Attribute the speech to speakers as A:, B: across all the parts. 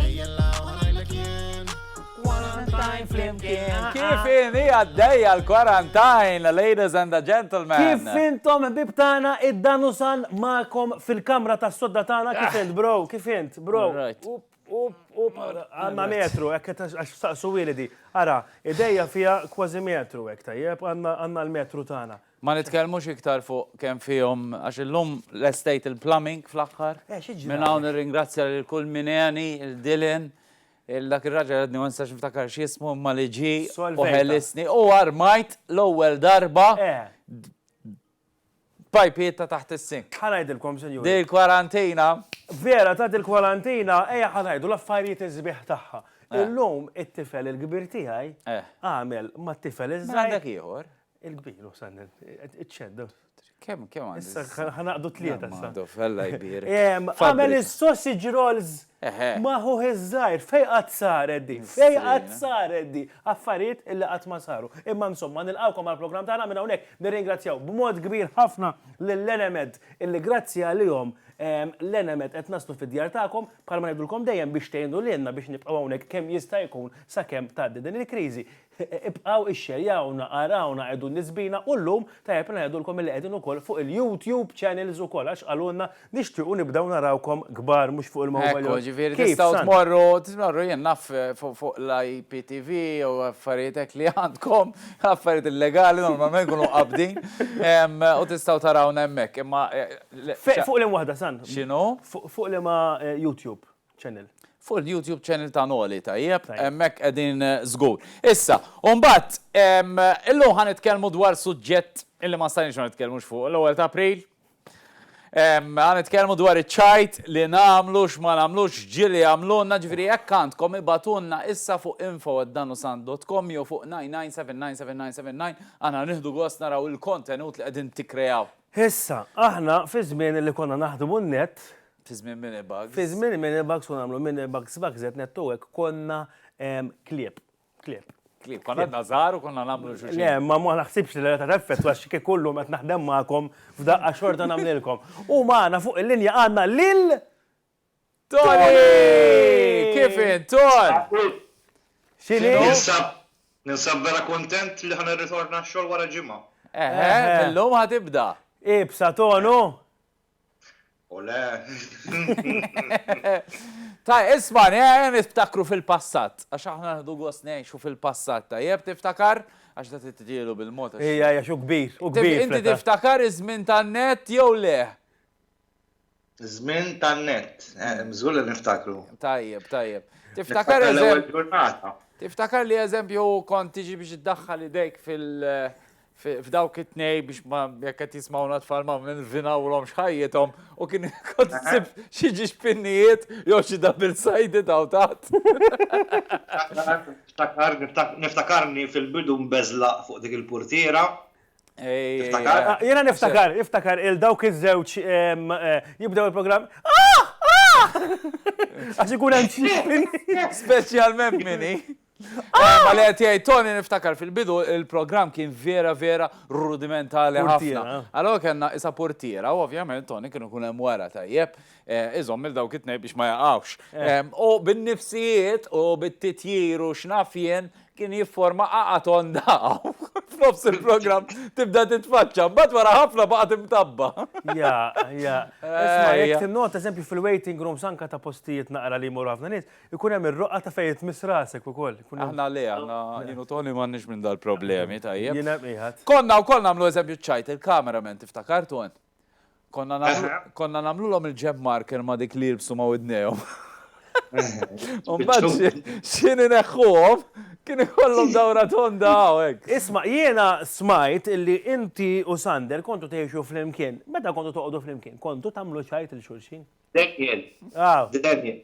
A: Ejjella
B: u ħanajlek jien. Quarantine flimkien. Kif inhi għaddejja l-quarantine, ladies and the gentlemen? Kif intom
C: ħbieb tagħna id-Danusan magħkom fil-kamra tas-sodda tagħna kif int bro? Kif int bro? Up up
B: up
C: għandna metru hekk għax saqsuwieli di. Ara, idejja fiha kważi metru hekk tajjeb għandna l-metru tagħna. Ma nitkellmux iktar
B: fuq kemm fihom għax illum lestejt il-plumbing fl-aħħar. Eh, xi ġralek? Minn hawn
C: nirringrazzja
B: lil kull min għeni, lil Dylan, lil dak ir-raġel għadni ma nistax niftakar x'jismu imma li ġie u Solvejta. ħelisni u
C: armajt
B: l-ewwel darba Eh. pajpiet ta' taħt is-sink. Ħa ngħidilkom, sinjuri. Din
C: il-kwarantina.
B: Vera, ta'
C: dil-kwarantina, ejja ħa ngħidu l-affarijiet is-sbieħ tagħha. Eh. Illum it-tifel il-kbir tiegħi Eh. għamel mat-tifel Mela iż-żgħir. għandek ieħor.
B: Il-kbir, u sanna,
C: iċċedda. Kem, kem
B: għandha? Issa, ħanaqdu
C: tlieta sa. Fella jbir.
B: Għamel
C: il-sausage rolls maħu iż-żajr, fej għad saret di, fej għad saret di, affarijiet illi għad ma saru. Imma insomma, nil-għawkom għal-program tagħna minn hawnhekk nirringrazzjaw b'mod kbir ħafna lill-Enemed illi grazzi għalihom l-Enemed qed naslu fid-djar tagħkom bħalma ngħidulkom dejjem biex tgħinu lilna biex nibqgħu hawnhekk kemm jista' jkun sakemm tgħaddi din il-kriżi. Ibqgħu ixxerjawna, arawna qegħdun nisbina u llum tajjeb ngħidulkom illi qegħdin ukoll fuq il-YouTube channels ukoll għax qalulna nixtiequ nibdew narawkom kbar mhux fuq il-mobile. Ekku, ġifieri tistgħu
B: tmorru, tmorru jien naf fuq l-IPTV u affarijiet hekk li għandkom, affarijiet illegali normalment ikunu mqabbdin u tistgħu tarawna hemmhekk imma. Fuq liema
C: waħda San? X'inhu? Fuq
B: liema
C: YouTube? channel. Fuq il-YouTube
B: channel ta' Noli, tajjeb, hemmhekk qegħdin żgur. Issa, u mbagħad illum ħa nitkellmu dwar suġġett illi ma stajniex ma nitkellmux fuq l-ewwel ta' April. Ħa nitkellmu dwar iċ-ċajt li nagħmlu x'ma nagħmlux ġieli jagħmlulna, ġifieri jekk għandkom ibagħtulna issa fuq info@danusant.com jew fuq 99799979 aħna nieħdu gost naraw il-kontenut li qegħdin tikkreaw. Issa, aħna
C: fi żmien li konna naħdmu n-net, Fi żmien mini
B: bags. Fi żmien il-mini bags
C: u nagħmlu mini bags bags qed ngħedtu hekk konna klieb. Klieb. Klieb.
B: Konna għadna żgħar u konna nagħmlu xi. Le, imma ma naħsibx li
C: l-età teffettwa għax kieku llum qed naħdem magħkom f'daqqa xorta nagħmlilkom. U magħna fuq il-linja għandna lil
B: Toni! Kif int, Ton? X'inhi?
C: Ninsab
D: ninsab vera kuntent li ħa nirritorna x-xogħol wara ġimgħa. Eħe, illum
B: ħa tibda. Iebsa Tonu!
D: Ole!
B: Ta' isma' nejn iftakru fil-passat, għax aħna nħdu għos nejxu fil-passat, ta' jeb tiftakar, għax da t-tġilu bil-mot. Ija, ija, xu kbir,
C: u kbir. Inti tiftakar
B: iż-żmien tan-net jew le? Żmien
D: tan-net, eh, mżgur li niftakru. Tajjeb, tajjeb.
B: Tiftakar eżempju.
D: Tiftakar li eżempju
B: kont tiġi biex iddaħħal idejk fil- f'dawk it-tnej biex ma jekk qed jismawna tfal ma nvinawlhom xħajjithom u kien kont sib xi ġiġpinnijiet jew xi double sided hawn taħt.
D: Niftakarni fil-bidu mbeżlaq fuq dik il-purtiera.
C: Jiena niftakar, niftakar il dawk iż-żewġ jibdew il-programm. Għax ikun hemm Speċjalment
B: minni. Ma li qed jgħid Tony niftakar fil-bidu il-programm kien vera vera rudimentali ħafna. Allora kellna isa portiera u ovvjament Tony kienu kun hemm wara tajjeb eh, iżomm il dawk it-tnej biex ma jaqgħux. U bin-nifsijiet u bit-titjir u x'naf jien kien jifforma qaqa tonda f'nofs il-programm tibda titfaċċa, mbagħad wara ħafna baqgħet imtabba.
C: Ja, ja. Isma' jekk tinnota eżempju fil-waiting rooms anka ta' postijiet naqra li jmur ħafna nies, Ikun hemm ir-roqgħa ta' fejn tmiss rasek ukoll. Aħna le, aħna
B: jien u Toni m'għandniex minn dal-problemi, tajjeb. Jiena qiegħed. Konna
C: wkoll nagħmlu eżempju
B: ċ-ċajt, il-cameraman tiftakar Ton? Konna nagħmlu, konna nagħmlulhom il-jab marker ma' dik li jilbsu ma' widnejhom. U mbagħad xi- x'ħin ineħħuhom kien ikollhom dawra tonda hawn hekk. Isma', jiena
C: smajt illi inti u Sander kontu tgħixu flimkien. Meta kontu toqogħdu flimkien, kontu tagħmlu ċajt lil xulxin?
D: Daniel, Daniel,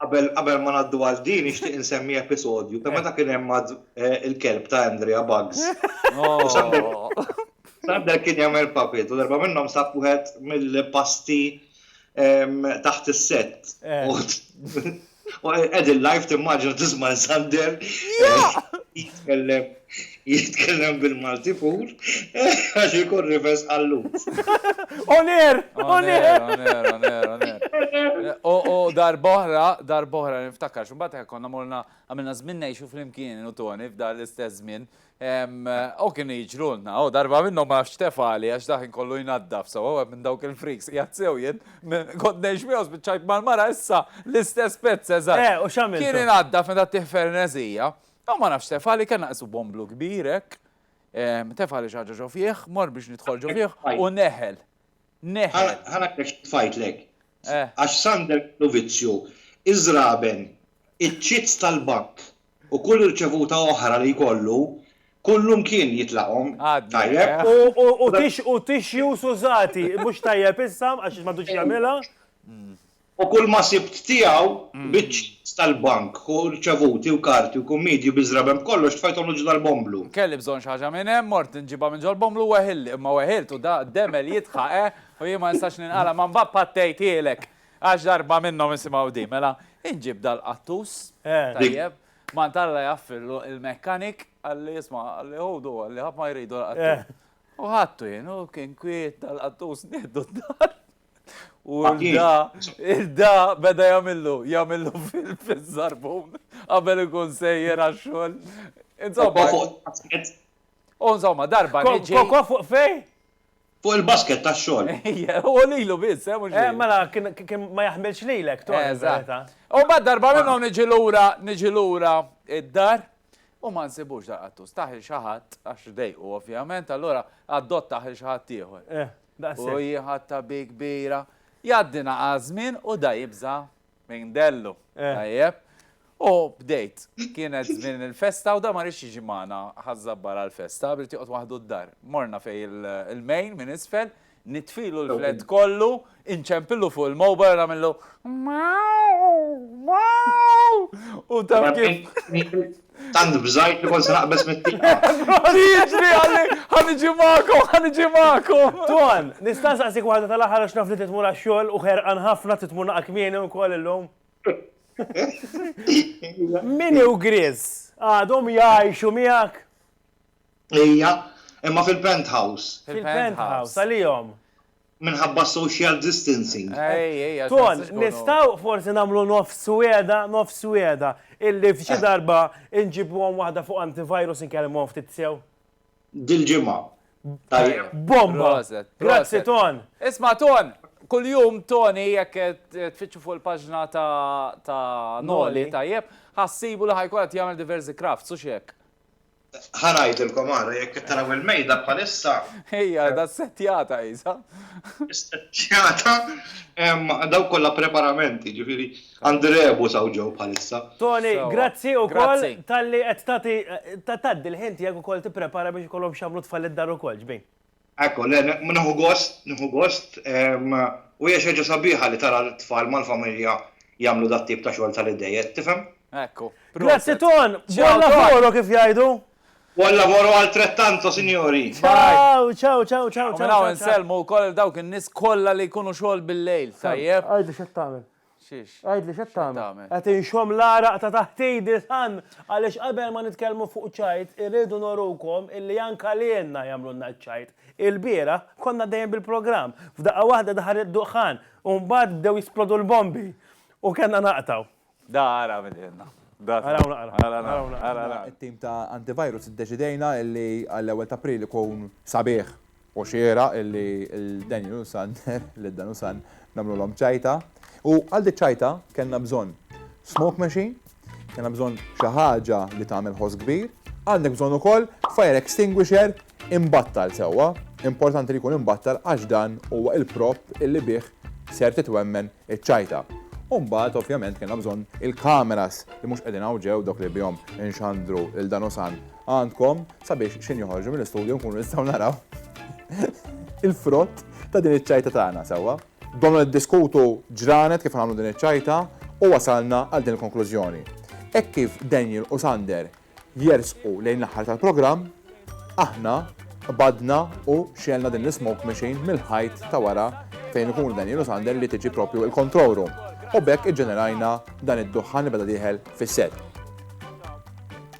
D: qabel ma ngħaddu għal din nixtieq insemmi episodju ta' meta kien hemm eh, il-kelb ta' Andrea Bugs. Sander oh. kien jagħmel papit u darba minnhom sab wieħed mill-pasti taħt is-set. Eh. Ed il-live timmaġina tisma' Sander jitkellem jitkellem bil-Malti pur għax ikun rifes għallut. Oner! Oner! Oner! Oner! Oner! U
B: darbohra, darbohra niftakar, xumbat konna morna għamilna żmien ngħixu flimkien u Tony f'dar l-istess żmien. O kienu jiġrulna, o darba minnhom ma nafx x'tef għali għax dak kien kollu jnaddaf sewwa wieħed minn dawk il-freaks qiegħed sew jien kont ngħix miegħu spiċċajt mal-mara issa l-istess pezz eżatt. Eh, u x'għamiltu? Kien inaddaf
C: meta ttieħ
B: ferneżija. U ma nafx x'tef għali kellna qisu bomblu kbir hekk, tef għali xi ħaġa ġo fih, mor biex nidħol ġo fih u neħel. Neħel.
D: Ħa ngħidlek xi tfajtlek. Għax Sander kellu vizzju, iż-żraben, iċ-ċits tal-bank, U kull irċevuta oħra li jkollu, kullu mkien jitlaqhom. Tajjeb? U
C: tixjus użati, mhux tajjeb issa, għax m'għadux jagħmilha.
D: U kulma sibt tiegħu, biċċiet tal-bank, ħu rċevuti u karti u kummidi u biżraben b'kollox tfajthom lil ġdal bomblu. Kelli bżonn xi ħaġa minn
B: hemm, mort inġibha minn ġol-bomblu u weħilli, imma weħilt u da demel jitħa, eh, u jien ma nistax ninqala' ma mbagħad pattejthielek. Għax darba minnhom isimgħu din, mela inġib dal-qattus, tajjeb, mant Alla jgħaffirlu il-mechanic, qalli isma' qalli ħudu qalli ħadd ma jridu l-qattus. U ħadtu jien u kien kwiet dal-qattus nieħdu d-dar. U da, da beda jagħmillu, jagħmillu fil-żarbun qabel ikun sejjer għax-xogħol. Insomma. U insomma darba niġi. Koko fuq fej?
C: Fuq il-basket
D: tax-xogħol. Ejja, hu lilu
B: biss, eh, mhux lili. Mela, kien
C: ma jaħmilx lilek, Tony, fil-verità. Eżatt. U
B: mbagħad darba minn hawn niġi lura, niġi lura d-dar u ma nsibux dal-qattus. Tah lil xi ħadd, għax dejqu ovvjament, allura adottah lil xi ħadd ieħor. Eh, daqshekk. U jien ħadtha bi kbira. Jgħaddi naqas żmien u da jibża' Minn Dellu, tajjeb. U bdejt, kienet żmien il-festa u da ma rridx jiġi magħna ħażżabbar għall-festa, bdiet joqgħod waħdu d-dar. Morna fej il-mejn minn isfel, nitfilu l-flet kollu, inċempillu fuq il-mobile nagħmillu. U taf kif. Tant bżajt
D: li kont se naqbeż mit-tieqa. Jiġri
B: għalli ħaniġi magħkom, ħaniġi magħkom. Ton,
C: nista' nsaqsik waħda tal-aħħar għax naf li trid tmur għax-xogħol u ħerqan ħafna trid tmur naqra kmieni wkoll illum. Minnie u Grizz għadhom jgħixu miegħek?
D: Ejja, imma fil-penthouse. Fil-penthouse,
C: għalihom. minħabba
D: social distancing. Ton,
C: nistaw forsi namlu nofs weda, nofs weda, illi f'xi eh. darba nġibu għom wahda fuq antivirus nkellem għom ftit sew. Dil-ġimma. Bomba! Grazzi, Ton! Isma, Ton!
B: Kull-jum, Tony, jekk tfittxu fuq il-paġna ta' Noli, tajjeb, ħassibu li ħajkun għat jgħamil diversi kraft, su xiek. Ħa
D: ngħidilkom ara jekk qed taraw il-mejda bħalissa. Ejja, da
B: settjata isa. Settjata
D: daw kollha preparamenti, ġifieri għandi rebu saw ġew bħalissa. Tony, grazzi
C: wkoll talli qed tagħti tgħaddi l-ħin tiegħek ukoll tipprepara biex ikollhom x'jagħmlu tfal id-dar ukoll, ġbin. Ekku, le,
D: nieħu gost, nieħu gost, u hija xi ħaġa sabiħa li tara t-tfal mal-familja jagħmlu dat-tip ta' xogħol tal-idejn, qed tifhem? Ekku. Grazzi
B: Ton!
C: Buon lavoro kif jgħidu. Buon lavoro
D: altrettanto signori. Ciao, ciao,
C: ciao, ciao, ciao. U minn
B: hawn insellmu wkoll lil dawk in-nies kollha li jkunu xogħol bil-lejl, tajjeb? Għidli x'qed tagħmel.
C: Xiex? Għidli
B: x'qed tagħmel?
C: Qed inxomm l-għaraq ta' taħt idi san għaliex qabel ma nitkellmu fuq ċajt irridu nurukom illi anke lilna jagħmlulna ċ-ċajt. Ilbieraħ konna għaddejjin bil-programm, f'daqqa waħda daħal id-duħħan u mbagħad bdew jisplodu l-bombi u kellna naqtgħu. Da ara min
B: qiegħedna. Araw naqra. Ara naqra.
E: It-tim ta' Antivirus iddeċidejna illi għall-ewwel t'April ikun sabiħ. Hu xieraq li l-Daniel u San, lid-Dan u San, nagħmlulhom ċajta. U għal dik ċajta kellna bżonn smoke machine, kellna bżonn xi ħaġa li tagħmel ħoss kbir, għandek bżonn ukoll fire extinguisher imbattal sewwa, importanti li jkun imbattal għax dan huwa l-prop illi bih ser titwemmen iċ-ċajta. U mbagħad ovvjament kellna bżonn il-kameras li mhux qegħdin hawn ġew dawk li bihom inxandru lil Dan u San għandkom. Sabiex xejn joħorġu mill-istudju nkunu nistgħu naraw il-frott ta' din iċ-ċajta tagħna sewwa. Domna niddiskutu ġranet kif nagħmlu din iċ-ċajta u wasalna għal din il-konklużjoni. Hekk kif Daniel u Sander jersqu lejn l-aħħar tal-programm, aħna qbadna u xelna din l-smoke machine mill-ħajt ta' wara fejn ikunu Daniel u Sander li tiġi propju il-control room. U bekk iġġenerajna dan id-duħħan li beda dieħel fis-set.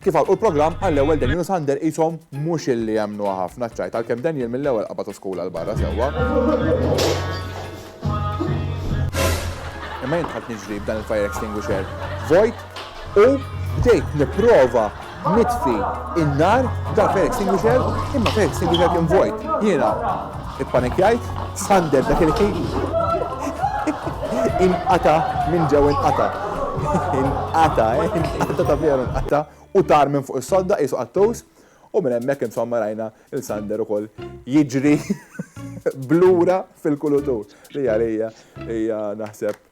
B: Kif għalqu l-programm,
E: għall-ewwel Daniel u Sander qishom mhux illi emmnuha ħafna ċ-ċajt għalkemm Daniel mill-ewwel qabad uskul għal barra sewwa. Imma jien dħalt niġri b'dan il-fire extinguisher vojt u bdejt nipprova nitfi n-nar b'dan il-fire extinguisher imma l-fire extinguisher kien vojt. Jiena Ippanikjajt, Sander dak il-ħin inqata minn ġew inqata. Inqata, eh, inqata ta' veru inqata u tar minn fuq is-sodda qisu qattus u minn hemmhekk insomma rajna il Sander ukoll jiġri blura fil-kulutur li għalija hija naħseb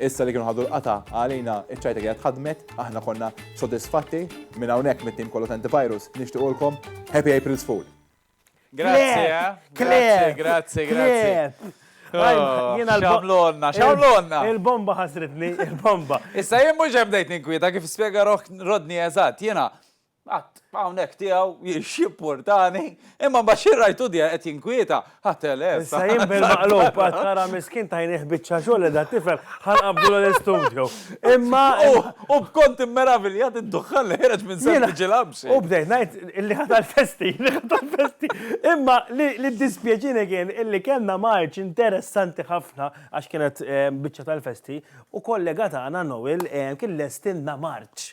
E: Issa li kienu ħadu l-qatgħa għalina iċ-ċajta kienet ħadmet, aħna konna sodisfatti, minn hawnhekk mit-tim kollu ta' Antivirus nixtiequlkom Happy April's Fool. Grazzi, eh? Grazzi, grazzi,
B: grazzi. Oh, xamlonna, xamlonna. Il-bomba
C: ħasritni, il-bomba. Issa jien mhux hemm dejt
B: ninkwieta kif spjega Rodni eżatt, jiena Qatt, hawnhekk tiegħu x'jimpurtani, imma mbagħad xi rajtu diha qed jinkwieta, ha telef. Issa jien bil-maqlub
C: qatt nara miskin tajnih biċċa xogħol qiegħda tifhem, ħa nqabbdulu l-istudju. Imma U b'kont
B: immeraviljat id-duħħan li ħereġ minn sempliċi labxi. U bdejt ngħid
C: illi ħa tal-festi, illi ħa tal-festi. Imma li ddispjaċini kien illi kellna marċ interessanti ħafna għax kienet biċċa tal-festi u kollega tagħna Noel kien lestilna marċ.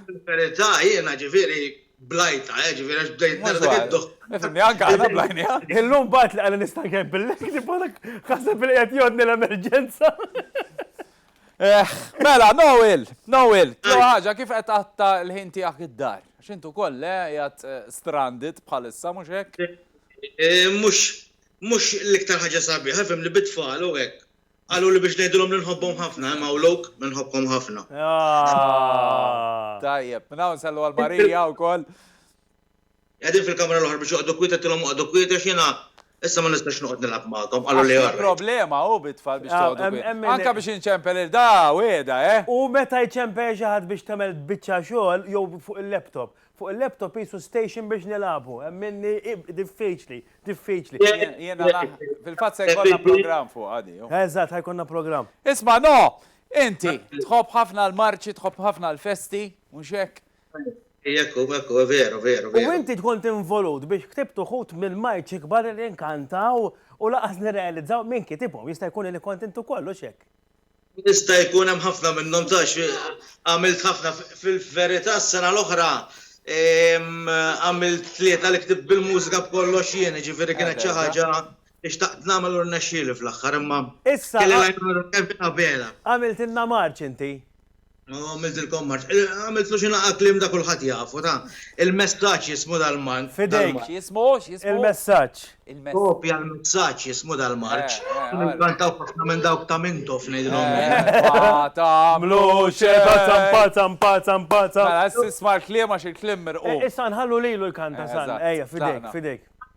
B: Sinċerità
D: jiena ġifieri blajtha, eh, ġifieri għax bdejt nara dak id-dukk.
B: Nifhimni anke aħna blajniha. Illum bgħidt li qali
C: nista' nkebbillek, nibgħatek ħaseb li qed jgħoddni l-emerġenza. Eh,
B: mela, Noel, Noel, tlu ħaġa kif qed qatta l-ħin tiegħek id-dar? Għax intu koll, eh, jgħat eh, stranded bħalissa, mhux hekk? Eh, mhux
D: mhux l-iktar ħaġa sabiħa, fim li bitfall u hekk. Qaluli biex ngħidilhom li nħobbhom ħafna, hemm hawn lok li nħobbkom ħafna.
B: Tajjeb, minn hawn sallu għal Marija wkoll.
D: Qegħdin fil-kamra l-oħra biex joqogħdu kwiet għedtilhom oqogħdu kwiet għax jiena issa ma nistax noqgħod nilgħab magħkom, qaluli all right. Problema hu bit-tfal
B: biex toqogħdu kwiet. Anke biex inċempel lil da, wiegħda, eh! U meta
C: jċempel xi ħadd biex tagħmel biċċa xogħol jew fuq il-laptop, Fuq il-laptop qisu station biex nilagħbu, hemm minni diffiċli, diffiċli.
B: Jiena naħ, fil-fatt se jkollna programm fuqha di. Eżatt, ħa jkollna programm.
C: Isma' no!
B: Inti, tħobb ħafna l-marċi, tħobb ħafna l-festi, mhux hekk? Jekk hu,
D: jekk hu, veru, veru, veru. U inti tkun
C: tinvolut biex ktibt uħud mill-marċi kbar li nkantaw u lanqas nirrealizzaw min kitibhom, jista' jkun li kont int ukoll, hux hekk? Jista'
D: jkun hemm ħafna minnhom tgħix għamilt ħafna fil-verità s-sena l-oħra għamilt tlieta li ktibt bil-mużika b'kollox jien, jiġifieri kienet xi ħaġa li xtaqt nagħmel u rnexxieli fl-aħħar imma kelli l-għajnuna
C: ta' Kevin Abela. Għamiltilna marċ
D: inti. Għamiltilkom marċ. Għamiltlu xi naqa' kliem da kulħadd jafu, ta. Il-messaġġ jismu dal-marċ. F'idejk. X'jismu?
C: X'jismu?
B: Il-messaġġ.
C: Il-messaġġ. Kopja
D: l-messaġġ jismu dal-marċ. Kienu jkantaw ħafna minn dawk ta' Mintoff ngħidilhom jien. Ma
B: tagħmlu xejn. Pazzam,
C: pazzam, pazzam, pazzam. Mela,
B: issa isma' l-kliem għax il-kliem mirqu. Issa nħallu lilu
C: jkanta, San. Ejja, f'idejk, f'idejk.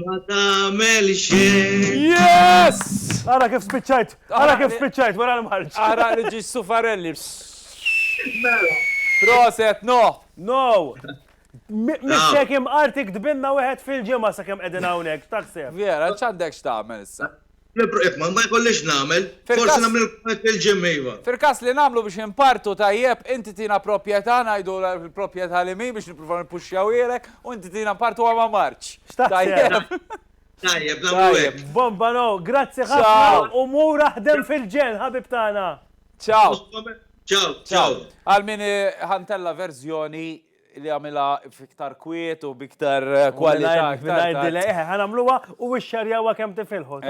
B: Ma
D: tagħmel xejn. Yes!
B: Ara kif
C: spiċċajt, ara kif spiċċajt wara l-marċ. Ara li ġiex
B: sufarelli. Mela. Proset, no. No.
C: Mixek imqartik tbinna wieħed fil-ġimgħa sakemm qegħdin hawnhekk, x'taħseb? Vera, x'għandek
B: x'tagħmel issa? Jekk ma
D: jkollix nagħmel, forsi nagħmel il-kumment lil Jim, iva. Fil-każ li nagħmlu
B: biex inpartu tajjeb, inti tina proprjetà, ngħidu l-proprjetà li mhi biex nippruvaw nippuxxjawhielek, u inti tina npartuha ma' Marc. Tajjeb? Tajjeb, nagħmlu
D: hekk. Bomba no, grazzi
C: ħafna u mur aħdem fil-ġenn, ħabib tagħna. Ciao.
B: Ciao,
D: ciao. Għal min
B: iħantella verżjoni li għamilha fiktar kwiet u biktar eh, kwalità. Mingħajr delay, eh, ħanamluha
C: u xxarjawha kemm tifilħu.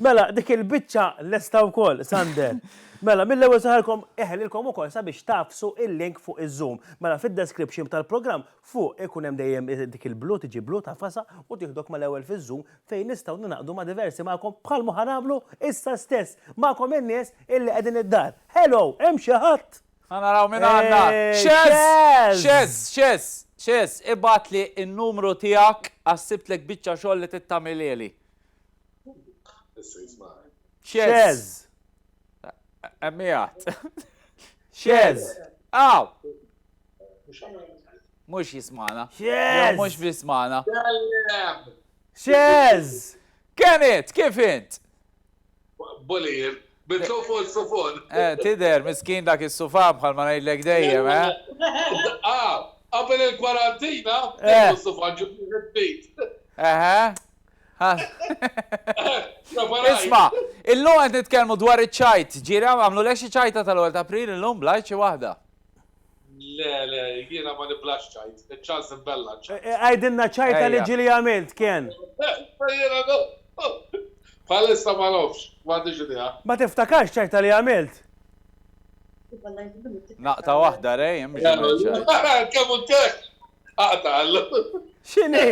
B: Mela, dik
C: il-biċċa lesta wkoll, Sander. Mela, mill-ewwel saħarkom eħelilkom ukoll sabiex tafsu il-link fuq iż-Zoom. Mela fid-description tal-programm fuq ikun hemm dejjem dik il-blu tiġi blu ta' fasa u tieħdok mal-ewwel fiż-Zoom fejn nistgħu ninaqdu ma' diversi magħkom bħal ma ħanamlu issa stess magħkom in-nies illi qegħdin id-dar. Hello, hemm xi ħadd? Ħa naraw min għandna.
B: Xeż! Xeż! Xeż! Xeż! Ibgħatli n-numru tiegħek għax sibtlek biċċa xogħol li trid tagħmilieli.
C: Issa jismagħni. Xeż! Hemm
B: qiegħed.
C: Xeż! Aw!
B: Mhux jismagħna. Xeż! Mhux
C: jismagħna. Xeż! Kemm int?
B: Kif int?
F: Bolir, bidlu fuq is-sufun. Eh, tidher, miskin
B: dak is-sufan bħal ma ngħidlek dejjem, eh? Ah, qabel
F: il-kwarantina, bidlu s-sufan, ġib wieħed ġdid.
B: Eħe. Isma', illum qed nitkellmu dwar iċ-ċajt. Ġieli, għamlulek xi ċajta tal-ewwel t'April illum, bl-għajt xi waħda? Le,
F: le, jiena ma niblax ċajt, iċ-ċans imbella ċajt. Eh, eh, Għajdilna ċajta
C: li ġili għamilt, kien. Jiena no.
F: Bħalissa ma nofx, ma għandix idea. Ma tiftakarx ċajta
C: li għamilt.
B: Naqta waħda rej, hemm biex għamilt ċajt. Kemm u
F: tek? Aqta għallu. Xini?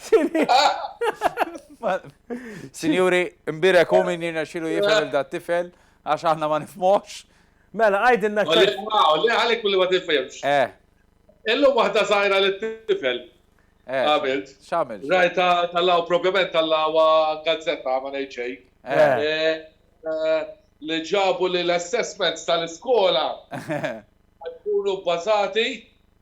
C: Xini?
B: Sinjuri, imbirek u minn jirna xilu jifel da tifel, għax aħna ma nifmox. Mela,
C: għidilna x'tgħid. Għalli fuq hawn, le għalhekk billi ma
F: tifhimx. Eh. Illum waħda żgħira li tifel. Eh. Għamilt. X'għamilt? Rajtha
B: tal-hawn
F: propjament tal-hawn gazzetta ma ngħid xejn. Eh. Li ġabu li l-assessments tal-iskola ħajkunu bbażati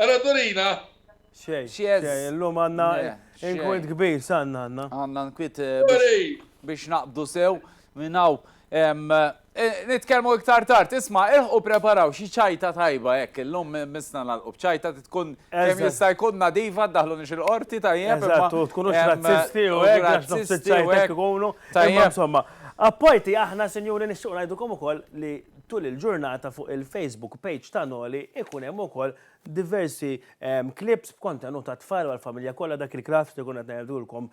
F: Ara Dorina! Xejn,
C: xejn, illum għandna inkwiet
B: kbir,
C: x'għandna għandna?
B: Għandna
C: inkwiet
B: biex
C: naqbdu
B: sew
C: minn
B: hawn. Nitkellmu iktar tard, isma' ilħqu preparaw xi ċajta tajba hekk, illum missna nagħlqu b'ċajta trid tkun kemm jista' jkun nadifa, ddaħħlunix il-qorti tajjeb. Eżatt, u tkunux razzisti u
C: hekk għax nofs iċ-ċajta jkunu. Tajjeb. Imma insomma, apparti aħna sinjuri nixtiequ ngħidulkom ukoll li Tul il-ġurnata fuq il-Facebook page ta' Noli ikun hemm ukoll diversi clips b'kontenut għat-tfal u għall-familja kollha dak il-craft li konna qed ngħidulkom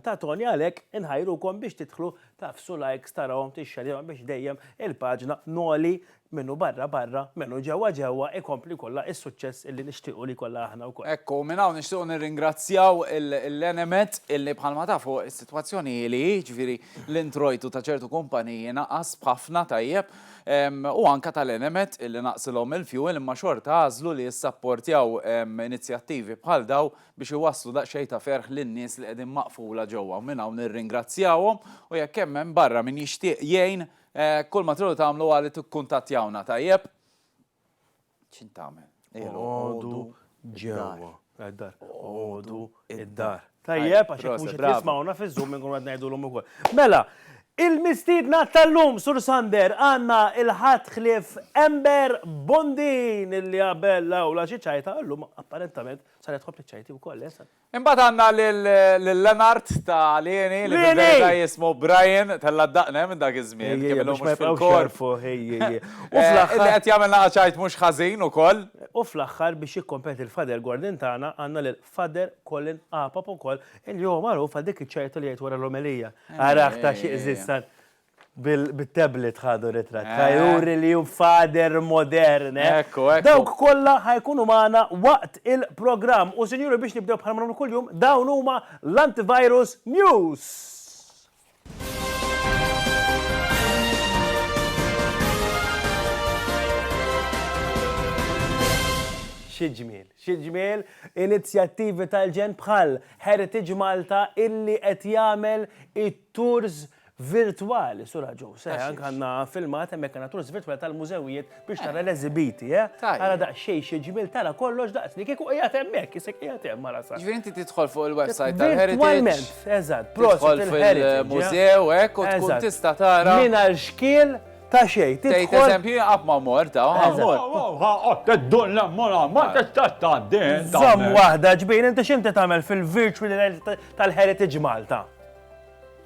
C: ta' Toni għalhekk inħajrukom biex tidħlu tagħfsu likes tarawhom tixxerjawhom biex dejjem il-paġna Noli min hu barra barra min hu ġewwa ġewwa ikompli jkollha is-suċċess illi nixtiequ li jkollha aħna wkoll. Hekk hu, minn hawn nixtiequ
B: nirringrazzjaw il-Enemed illi bħalma tafu Sitwazzjoni hi li hi, jiġifieri l-introjtu ta' ċertu kumpaniji naqas b'ħafna, tajjeb, u anke tal-Enemed illi naqsilhom il-fjuwil imma xorta għażlu li jissapportjaw inizjattivi bħal dawn biex iwasslu daqsxejn ta' ferħ lin-nies li qegħdin maqfula ġewwa u minn hawn nirringrazzjawhom u jekk hemm hemm barra min jixtieq jgħin kull ma tridu tagħmlu hu li tikkuntattjawna, tajjeb? ċintamel. Għodu
C: ġewwa. Għaddar. Għodu id-dar. Tajjeb, għax jekk mhux jismawna fiż-żum minn kun ngħidu l-lum ukoll. Mela, il-mistiedna tal-lum Sur Sander għandna il-ħadd ħlief Ember Bondin illi qabel l-awla xi ċajta llum apparentament saret ħobb ċajti wkoll, eh, Imbagħad għandna
B: lil Lenart ta' Lieni li fil-verità jismu Brian, tella' d-daqne minn dak iż-żmien, kemm ilu mhux fil-korp. Illi qed jagħmilna qaċajt mhux ħażin ukoll. U fl-aħħar biex
C: jikkompeti l-Father Gordon tagħna għandna lil Father Colin Apap ukoll illi huwa magħruf għal dik iċ-ċajta li jgħid wara l-omelija. Arah ta' xi qżiż! Bit-tablet ħadu ritratt. Ħajuri li hu fader modern. Dawk kollha ħajkunu magħna waqt il-programm. U sinjuri biex nibdew bħalma nagħmlu kuljum, dawn huma l-Antivirus News. Xi ġmiel, xi ġmiel inizjattivi tal-ġenn bħal Heritage Malta illi qed jagħmel it-tours Virtwali, sura ġew, se anke għandna filmat hemmhekk għandna turs virtwali tal-mużewijiet biex tara l-eżibiti, eh? Ara daqsxejn xi ġmiel tara kollox daqs li kieku qiegħed hemmhekk, isek qiegħed hemm ara sa. Ġifieri inti tidħol fuq
B: il-website tal-Heritage. Virtwalment, eżatt,
C: prosit il-Heritage. Mużew hekk u
B: tkun tista' tara. Mingħajr xkiel
C: ta' xejn. Tgħid eżempju qatt
B: ma mort ta' ħammur. Teddun
G: l-ammura, ma tistax tgħaddi. Żomm waħda
C: ġbin, inti x'inti tagħmel fil-virtual tal-Heritage Malta?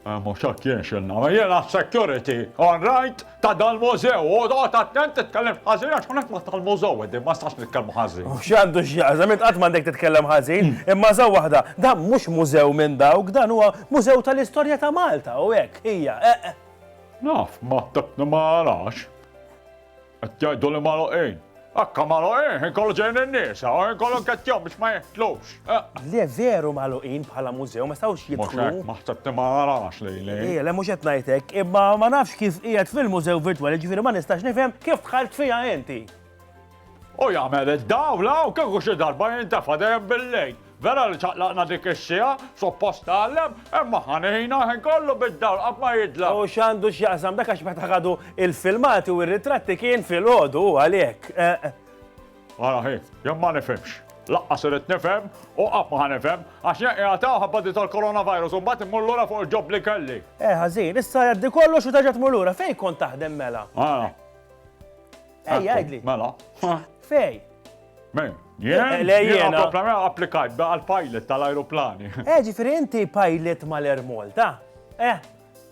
G: Mhux hekk jien x'inna. Jiena s-security, all right, ta' dal-mużew. U oqgħod attent titkellimx ħażin għax hawnhekk ma tal-mużew qegħdin, ma nistax nitkellmu ħażin. U x'għandu x'jaqsam, int
C: qatt m'għandek titkellem ħażin. Imma ża waħda, dan mhux mużew minn dawk, dan huwa mużew tal-istorja ta' Malta u hekk hija, eqq. Naf,
G: ma narax. Qed jgħidu li magħluqin. Akka magħluqin, ħin kollu ġejjin in-nisa, u ħin kollu nkettjhom biex ma jeħtlux. Le veru
C: magħluqin bħala mużew, ma stawx jidħlu. Mhux hekk, ma ħsebti ma
G: narax li li. Ejja, le mhux qed ngħid
C: hekk, imma ma nafx kif qiegħed fil-mużew virtwali, ġifieri ma nistax nifhem kif dħalt fiha inti. U
G: jagħmel id-dawl hawn kieku xi darba jintefa' dejjem bil-lejl. Vera li ċaqlaqna dik is-siegħa, suppost tgħallem, imma ħa ngħinha ħin kollu bid-dawl qatt ma jidla. U x'għandu x'jaqsam dak għax
C: meta ħadu il-filmati u r-ritratti kien filgħodu u għalhekk.
G: Ara ħi, jien ma nifhimx. Laqqas irid nifhem u qatt ma ħa nifhem għax jien qiegħed hawn ħabba di tal-coronavirus u mbagħad immur lura fuq il-ġob li kelli. Eh ħażin, issa
C: jgħaddi kollox u terġa' tmur lura, fejn kont taħdem mela? Ara.
G: Ej,
C: għajdli.
G: Mela. Fej. Men, jien. Le jien. applikajt għal pilot tal-aeroplani. Eh, ġifiri inti
C: pilot mal-Air Malta. Eh.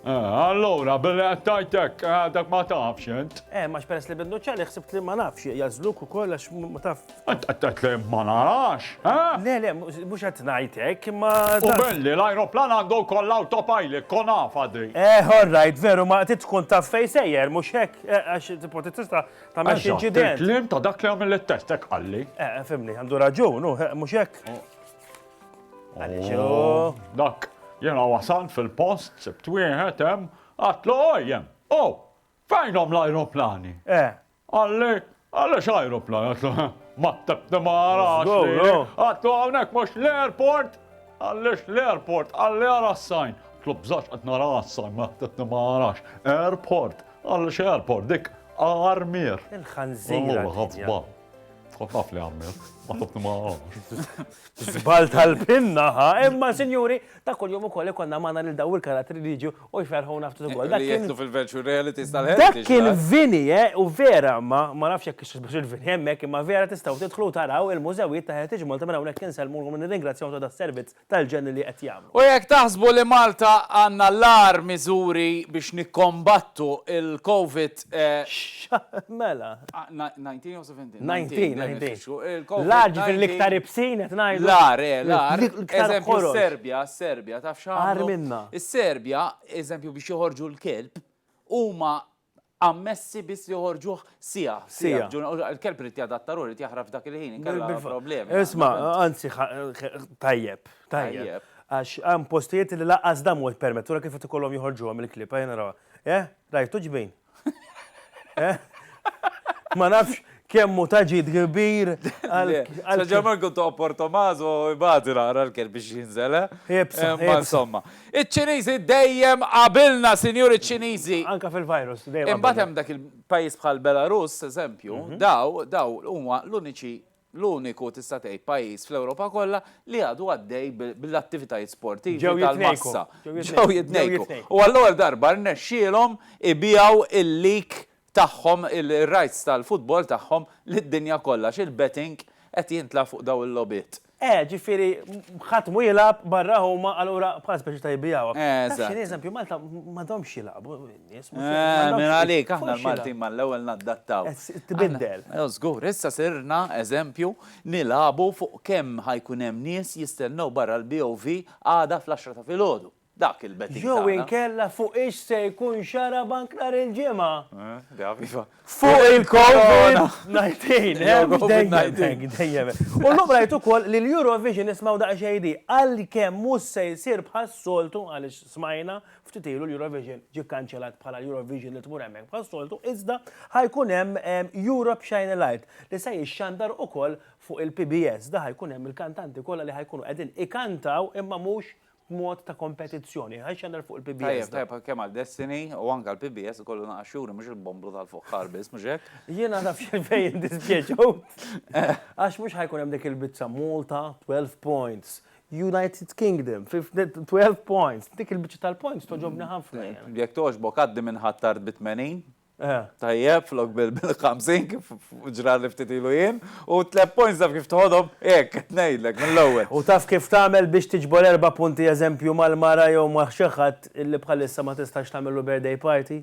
C: eh allora,
G: billi għattajtek, eh, dak ma tafx jent. Eh, ma xperes li bindu
C: ċali, xsibt li ma nafx, jazzluk u koll, ma taf. Int qed tgħid li ma
G: narax, eh? Le, le,
C: mhux qed ngħid hekk, imma. Hu belli,
G: l-ajruplan għandu wkoll l-autopilot, kon afha di. Eh, all right, veru,
C: ma trid tkun taf fejn sejjer, mhux hekk, eh, għax tipo tista' tagħmel xi inċident. Eżatt, il-kliem ta' dak li għamel
G: it-test hekk qalli. Eh, fimni, għandu
C: raġun, eh, mhux hekk. Għaliex hu. Oh, dak, jiena
G: wasal fil-post, sibt wieħed hemm, għatlu ojjem, oh, fejnhom l-ajruplani? Eh. Qalli, Għaliex ajruplan? Għatlu, Ma ttebni ma għarax li. Għatlu, Hawnhekk mhux l-airport? Għaliex l-airport? Qalli, Għara s-sajn. Għatlu, Bżax qed nara s-sajn, ma ttebni ma għarax. Airport? Għaliex airport? Dik
C: Armier.
G: Il-ħanżira. Ħafba. Taf li Armier. Ma ttebni ma għarax. Zbal
C: tal-pinna, ha? Imma, sinjuri, ta' kull-jum ukoll ikonna magħna lil daw il-karattri li jiġu U jferħuna ftit ukoll. Dak kien fil-virtual
B: reality tal-ħed. Dak kien Vini,
C: eh, u vera ma ma nafx jekk ix biex il-Vini hemmhekk imma vera tistgħu tidħlu taraw il-mużewijiet ta' Heritage Malta minn hawnhekk insellmulhom u nirringrazzjahom ta' das-servizz tal-ġenn li qed jagħmlu. U jekk taħsbu li
B: Malta għandna l-agħar miżuri biex nikkombattu l-Covid, eh. X'ha,
C: mela. Ngħid
B: jien jew. 19.
C: L-għar ġifir l-iktar ibsin qed ngħidu. L-għar, eh,
B: l-għar. Eżempju, Serbja, Serbja, taf x'għamlu? minna. Is-Serbja, eżempju biex joħorġu l-kelb, huma ammessi biss li joħorġuh sija. Sija. Il-kelb irid jadatta ruħu, irid jaħraf dak il-ħin, inkella problemi. Isma, anzi,
C: tajjeb, tajjeb. Għax għam postijiet li laqqas dam u permettura kif tkollhom joħorġuhom il-klib, għajna rawa. Eh, rajtu ġbin, Ma nafx kemmu taġid kbir għal. Saġġa
B: Marku ta' Portomazo ibati naqra l-kel biex jinżel, Ibsa. Eh? Ma insomma. Iċ-Ċiniżi dejjem qabilna, sinjur iċ-Ċiniżi. Anka fil-virus,
C: dejjem. Imbagħad hemm dak
B: il-pajjiż bħal Belarus, eżempju, mhm. daw, daw huma l-uniċi l-uniku tista' tgħid pajjiż fl-Ewropa kollha li għadu għaddej bl-attivitajiet sportivi tal-massa. Ġew jitnejku. U għall-ewwel darba rnexxielhom ibigħu il-league tagħhom, ir-rights tal-futbol tagħhom lid-dinja kollha għax il-betting qed jintlagħab fuq dawn il-logħbiet. Eh, ġifieri
C: ħadd mhu jilgħab barra huma allura bħala speċi ta' jbigħuha. Taf x'inhi, eżempju Malta m'għadhomx jilagħbu. Minn għalik,
B: aħna l-Maltin ma l-ewwel naddattaw. Tbiddel.
C: Żgur, issa
B: sirna eżempju nilagħbu fuq kemm ħajkun hemm nies jistennew barra l-BOV għada fl-għaxra ta' filgħodu. Dak il-betting. Jew inkella
C: fuq ix se jkun xarabank nhar il-Ġimgħa.
B: Fuq il-Corona! Ngħidin, hemm
C: dejjem. U llum rajt ukoll li l-Eurovision ismgħu daqsxejn di għalkemm mhux se jsir bħas-soltu għaliex smajna Ftit ilu l-Eurovision ġie kkanċellat bħala l-Eurovision li tmur hemmhekk bħas-soltu iżda ħa jkun hemm Europe Shine a Light li se jixxandar ukoll fuq il-PBS. Da ħa jkun hemm il-kantanti kollha li ħa jkunu qegħdin ikantaw imma mhux b'mod ta' kompetizzjoni. Ħa jxxandar fuq il-PBS da. Tajjeb, tajjeb, kemm għal Destiny
B: u anke għal PBS ikollu naqas xhuri mhux il-bombru tal-fuħħar biss, mhux hekk? Jiena naf x'għalfejn
C: jindispjaċew għax mhux ħa jkun hemm dik il-biċċa Malta 12 points. United Kingdom, 12 points. Dik il-biċċa tal-points toġobni ħafna. Jekk togħġbok għaddi
B: minn ħattart bi 80. Tajjeb, flok bil-50 kif ġra li ftit ilu jien, u tleb points taf kif tħodhom hekk qed ngħidlek mill-ewwel. U taf kif tagħmel
C: biex tiġbor erba' punti eżempju mal-mara jew ma' xi ħadd li bħalissa ma tistax tagħmillu birthday party?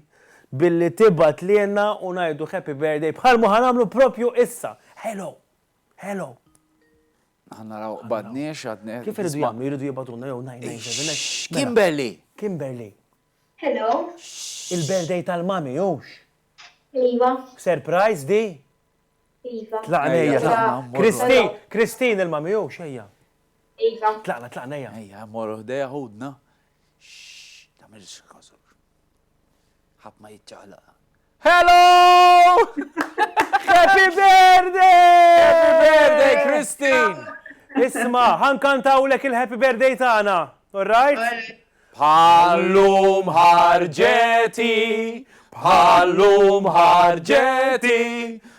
C: Billi tibgħat lilna u ngħidu happy birthday bħalma ħa nagħmlu proprju issa. Hello! Hello!
B: Aħna naraw qbadniex għadni. Kif iridu jagħmlu? Jridu
C: jibgħatulna jew 997. Mela. Kimberly! Kimberly.
B: Hello.
H: Il-birthday
C: tal-mami, hux? Iva.
H: Surprise
C: di? Iva.
H: Tlaqna ejja.
C: Kristin, Kristin il-mami, hux ejja. Iva.
H: Tlaqna, tlaqna ejja. Ejja,
C: morru ħdejja
B: ħudna. Tamilx kazu. Ħadd ma jiċċaqlaq. Hello!
C: Happy birthday! Happy birthday,
B: Christine! Isma,
C: ħankantawlek il-happy birthday tagħna, all right? Bħallum
B: ħarġeti, bħallum ħarġeti,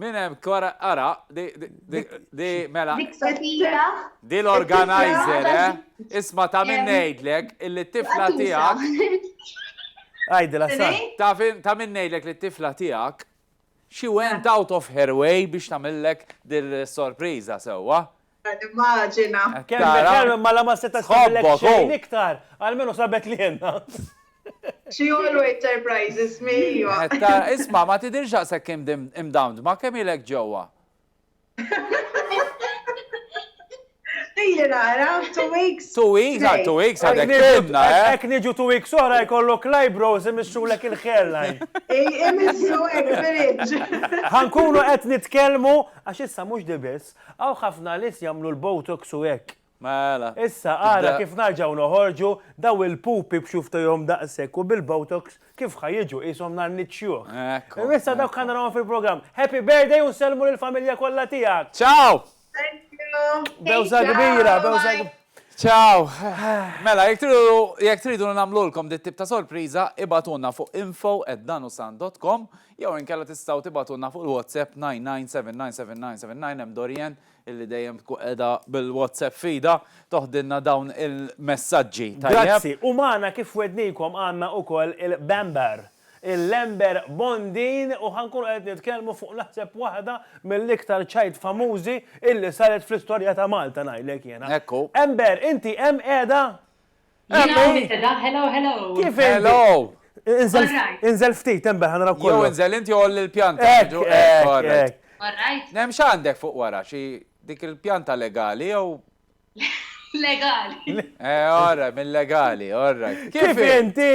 C: Min hemm kwara
B: ara di di di mela. Dik Sofija. Di l-organizer,
H: eh? Isma' ta'
B: min ngħidlek illi t-tifla tiegħek.
C: Għajdi la sa. Ta' min ngħidlek
B: li t-tifla tiegħek she went out of her way biex tagħmillek dil-sorpriża sewwa.
H: Immaġina. Kemm bekkem
C: ma la ma setax tagħmel xejn iktar, almenu sabet li jenna. She
H: always surprises me. Isma' ma
B: tidirx daqshekk imdamdma kemm ilek ġewwa?
H: Ili nara, two weeks. Two weeks, għal two weeks
B: għadek timna, eh? Ek niġu two weeks
C: oħra jkollok l-eyebrows imissrulek il-hairline. Imissu
H: ek fil-iġ. Ħankunu
C: qed nitkellmu għax issa mhux dibis. Hawn ħafna nies jagħmlu l-botox u hekk. Mela.
B: Issa ara
C: kif narġgħu noħorġu daw il-pupi b'xufftejhom daqshekk u bil-botox kif ħa jiġu qishom nhar Nid Xjuħ. Ekku. U issa dawk ħa narahom fil-programm. Happy birthday u nsellmu lill-familja kollha tiegħek. Ciao! Thank you.
H: Bewża kbira,
C: bewża kbira. Ciao.
B: Mela jekk tridu jekk tridu li nagħmlulkom dit-tip ta' sorpriża ibagħtulna fuq info@danusan.com Jew inkella tistgħu tibgħatulna fuq il-WhatsApp 99799799 hemm Dorian illi dejjem tkun qiegħda bil-WhatsApp f'idha toħdilna dawn il-messaġġi. Tajjeb? Grazzi, u
C: magħna kif wegħdnikom għandna ukoll il-Bamber, il-Lember Bondin u ħa nkunu qed nitkellmu fuq naħseb waħda mill-iktar ċajt famużi illi saret fl-istorja ta' Malta ngħidlek jiena. Ekku. Ember,
B: inti hemm
C: qiegħda?
I: Jiena hawn qiegħda, hello, hello.
C: Kif
B: Hello!
C: Inżel ftit, hemm bel, ħanaraw kollox. Jew inżel int jew għolli
B: l-pjanta. Hekk, hekk, hekk. All
I: right. Hemm x'għandek
B: fuq wara, xi dik il-pjanta legali jew? Legali.
I: Eh, all right,
B: mil-legali, all right. Kif inti?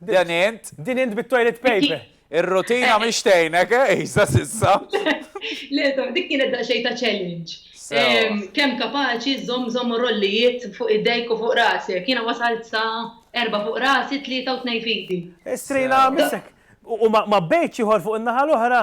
C: Din int? Din int bit-toilet paper. Ir-rutina mhix
B: tgħinek, eh, iżda sissa. Le,
I: dik kienet daqsxejn ta' challenge. Kemm kapaċi żżomm żomma rollijiet fuq idejk u fuq rasek. Jiena wasalt sa erbgħa fuq rasi, tlieta u tnejn f'idi. Is-srejla missek.
C: U ma bejtx ieħor fuq in-naħa l-oħra?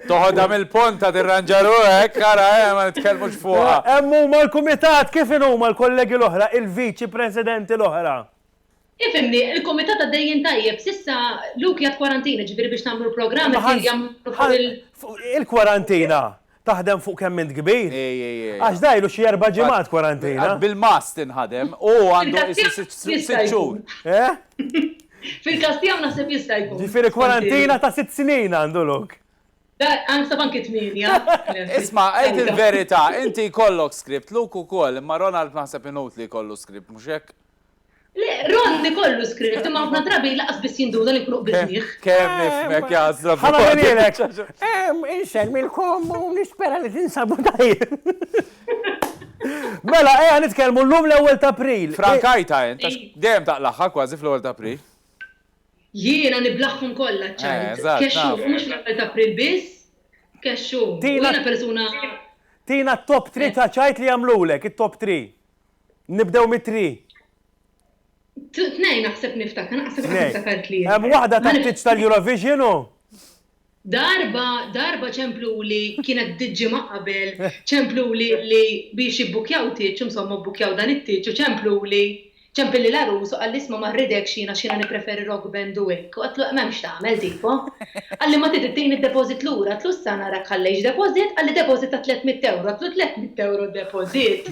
I: Toħodha
B: mill-ponta tirranġaru hekk, ara eh, ma nitkellmux fuqha. Hemm huma l-kumitat,
C: kif inhuma l-kollegi l-oħra, il-viċi presidenti l-oħra? Ifhimni,
I: il-kumitat għaddejjin tajjeb, s'issa Luke jgħid kwarantina, jiġifieri biex tagħmlu l-programm isir jagħmlu fuq il-.
C: Il-kwarantina taħdem fuq kemm int kbir? Għax da ilu xi erba' ġimgħat kwarantina. Bil-mast inħadem,
B: u għandu sitt xhur.
I: Fil-każ tiegħu naħseb jista' jkun. Ġifieri kwarantina ta'
C: sitt snin għandu lok. Għansa
I: banki tminja. Isma, għajt
B: il-verita, inti kollok skript, luk u koll, imma Ronald maħseb inut li kollu skript, muxek? Le,
I: Ron li kollu skript, imma għafna drabi laqas bis jinduna li kruq bil-miħ. Kem nifmek
B: jazra. Ħana minilek.
C: Em, insel mil-kom u nispera li tinsabu tajjeb. Mela, ejja nitkellmu llum l-ewwel t'April. Frankajta int, għax
B: dejjem taqlagħha kważi fl-ewwel t'April. Jiena
I: niblaghom kollha ċ-ċajt. Kexxu, u mhux fl-ewwel t'April biss. Kexxu, u jiena persuna. Tina
C: t-top three ta' ċajt li jagħmlulek, it-top three. Nibdew mit-three.
I: Tnejn naħseb niftakar, naħseb niftakar tlieta. Hemm waħda tat-tieġ
C: tal-Eurovision u? Darba,
I: darba ċempluli, kienet bdiet ġimgħa qabel, ċempluli li biex jibbukkjaw tieġ, insomma bbukkjaw dan it-tieġ u ċempluli, ċempilli l-għarus u qalli isma' ma rridekx jien għax jiena nippreferi rock band u hekk, u għedtlu hemm hemmx tagħmel tipo. Qalli ma trid ittini d-deposit lura, għedtlu issa narak ħallejtx deposit, qalli deposit ta' tliet mitt ewro, għedtlu tliet mitt ewro deposit.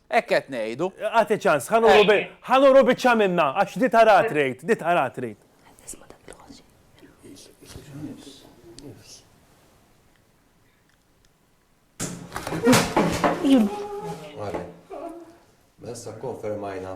B: Hekk qed ngħidu. Agħti ċans, ħa
C: nuru bi, ħa nuru biċċa minnha, għax di tara trid, di tara trid.
J: Għale, messa konfermajna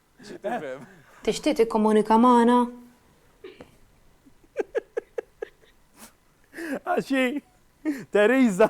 K: Tixtieq tikkomunika magħna?
C: Għax hi Theresa.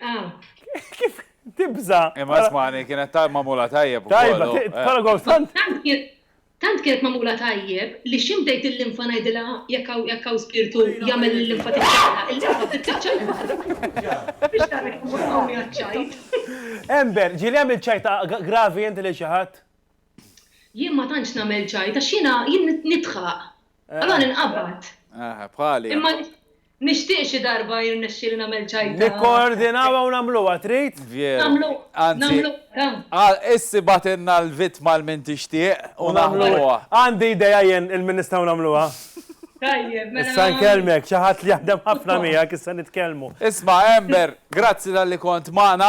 C: Ah. Kif tibza? Imma smani, kienet
B: ta' mamula tajjeb. Tajba, tara
C: għaw sant. Tant
I: kienet mamula tajjeb li ximdejt il-linfa najdila jekk hawn spirtu jagħmel il-linfa tiċċaqla. Il-linfa tiċċaqla. Biex tara kif qawwi għaċ-ċajt. Ember,
C: ġieli għamil ċajta gravi inti li xi ħadd?
I: Jien ma tantx nagħmel ċajt għax jiena jien nidħaq. Eh, Allora ninqabad. Eh, bħali.
B: Imma
I: nixtieq xi darba jirnexxi li nagħmel ċajta. Nikkoordinawa u
C: nagħmluha trid? Vjeru. Nagħmlu.
I: Anzi,
B: issi batinna l-vitma l-min tixtieq u nagħmluha. Għandi ideja
C: jien il-min nistgħu nagħmluha. Tajjeb,
I: mela. Issa nkellmek, xi ħadd
C: li jaħdem ħafna miegħek issa nitkellmu. Isma' Ember,
B: grazzi tal-li kont magħna.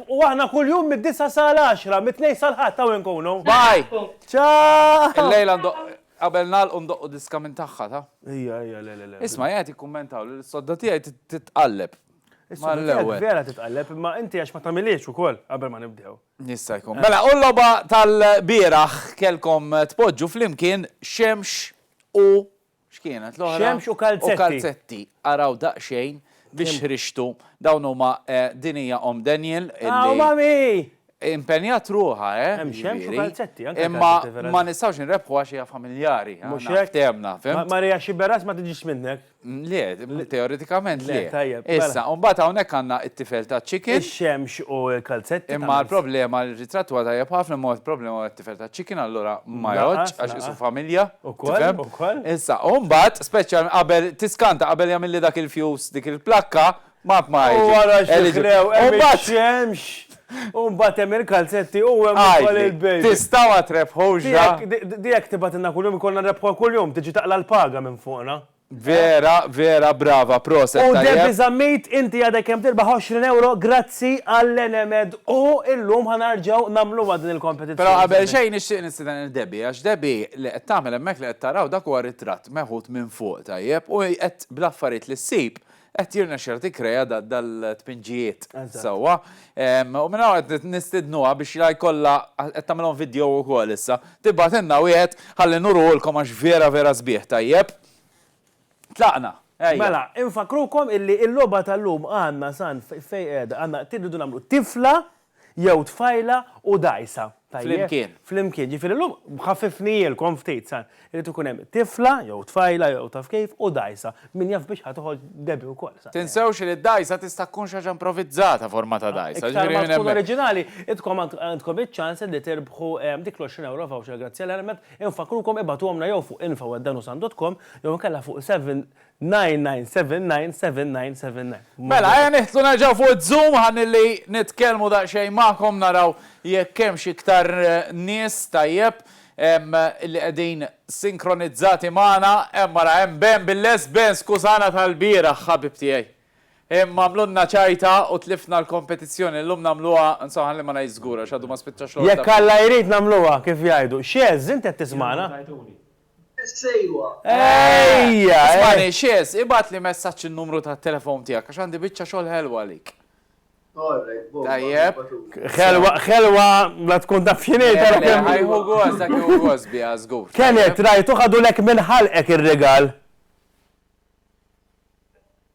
C: U aħna kuljum mid-disgħa sal-għaxra, mit-Tnejn sal-Ħadd hawn inkunu. Bye!
B: Ciao!
C: Illejla ndoqq,
B: qabel nagħlqu ndoqqu diska minn tagħha, ta? Ejja, ejja, le, le, le.
C: Isma' jien qed jikkummentaw
B: li l-sodda tiegħi titqalleb. Is-sodda tiegħek
C: vera titqalleb, imma inti għax ma tagħmilhiex ukoll qabel ma nibdew. Jista' jkun. Mela,
B: u l-logħba tal-bieraħ kellkom tpoġġu flimkien Xemx u X'kienet l-oħra? Xemx u kalzetti. U
C: kalzetti. Araw
B: daqsxejn biex ħriġtu. Dawn huma din hija Omm Daniel. Aw mami!
C: Impenjat
B: ruħa, eh? Hemm xemx u
C: kalzetti. Imma ma
B: nistgħux inrebħu għax hija familjari. Mhux hekk? Temna,
C: fim? Marija
B: xi beras ma tiġix
C: minnek. Le,
B: teoretikament le. Tajjeb. Issa, u mbagħad
C: hawnhekk
B: għandna t-tifel ta' chicken. Ix-xemx u
C: l-kalzetti. Imma l-problema
B: li ritrattu għadha jabħafna mod problema tifel ta' chicken allura ma jgħodx għax isu familja. Ukoll, ukoll.
C: Issa, u mbagħad
B: speċjal qabel tiskanta qabel jagħmilli dak il-fuse dik il-plakka ma ma U wara x'diklew
C: hemm ix-xemx. U mbagħad hemm il-kalzetti u hemm ukoll il-baby. Tista' ma trebħux.
B: Di jekk tibgħatilna
C: kuljum ikollna nrebħuha kuljum, tiġi taqla' l-paga minn fuqna. Vera vera
B: brava proset tajjeb. U Debbie Zammit
C: inti għadek kemm tirbaħ 20 ewro grazzi għall Enemed u illum ħa narġgħu nagħmluha din il kompetizzjoni. Però qabel xejn nixtieq
B: nistieden lil Debbie għax Debbie li qed tagħmel hemmhekk li qed taraw dak huwa ritratt meħud minn fuq tajjeb u qed bl-affarijiet li ssib Qed jirnexxilha tikkrea dal-tpinġijiet sewwa. U minn hawn qed nistidnuha biex la jkollha qed tagħmilhom vidjow ukoll issa. Tibgħatilna wieħed ħalli nuruhulkom għax vera vera sbieħ tajjeb. Tlaqna, ejja. Mela,
C: infakkrukom illi l-logħba tal-lum għandna san fejn qiegħda, għandna irridu nagħmlu tifla Jew tfajla u dgħajsa. Flimkien. Flimkien. Ġifieri llum ħaffifnihielkom ftit sa. Irid ikun hemm tifla jew tfajla jew taf kif u dgħajsa. Min jaf biex ħa toħroġ Debbie wkoll sa. Tinsewx li d-dgħajsa
B: tista' tkun xi ħaġa improvizzata forma ta' dgħajsa. Iktar ma tkun oriġinali,
C: intkom għandkom iċ-ċans li tirbħu dik l-għoxrin ewro voucher grazzi għall-helmet. Infakkrukom ibagħtuhomlna jew fuq info@danusam.com jew inkella fuq 99799797. Mela, ejja nidħlu
B: nerġgħu fuq iż-Zoom ħalli nitkellmu daqsxejn magħkom naraw jekk hemmx iktar nies, tajjeb, li qegħdin sinkronizzati magħna. Hemm ara hemm Ben bil-lest. Ben, skużana tal-bieraħ ħabib tiegħi. Imma għamlulna ċajta u tlifna l-kompetizzjoni. Illum nagħmluha, insomma ħalli ma ngħidx żgur għax għadu ma spiċċax l-ordni. Jekk Alla jrid nagħmluha
C: kif jgħidu. X'għeżż, inti qed tismagħna?
H: Sejwa.
C: Ejja! Ismani, Xez,
B: ibgħatli messaġġ in-numru tat-telefown tiegħek għax għandi biċċa xogħol ħelwa għalik. All right, bomba. Tajjeb. Ħelwa,
C: ħelwa, la tkun taf x'inhi tara kemm. Ħajħu gost, dak
B: hu gost biha żgur. Kenneth, rajtu
C: ħadulek minn ħalqek ir-rigal.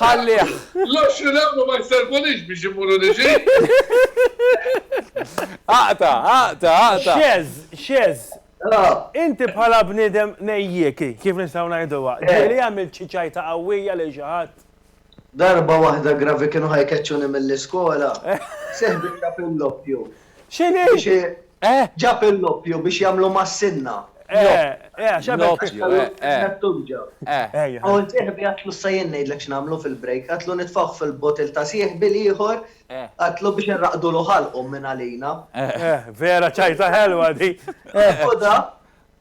B: Ħallih! L-għoxrin
F: ewro ma jservunix biex immur u niġi.
B: Aqta', aqta', aqta'! Xeż,
C: xeż! Inti bħala bniedem nejjiek, kif nistgħu ngħiduha, ġieli għamilt xi ċajta qawwija lil xi ħadd? Darba
L: waħda gravi kienu ħa jkeċċuni mill-iskola, seħbitha fil-loppju X'inhi? Biex i.
C: Eh?
L: Ġab il-loppju biex jagħmlu mas-sinna. Eh, eh, għax għamel. L-oppju, eh, eh. L-ħtutġa. Eh. Ejja. U l-sieħbi għatlu issa jien ngħidlek x'nagħmlu fil-break. Għatlu nitfgħuh fil-bottle ta' sieħbi l-ieħor. Eh. Għatlu biex inraqqdulu ħalqhom minn għalina. Eh. Eh, vera
C: ċajta ħelwa di. Eh. Ħudha.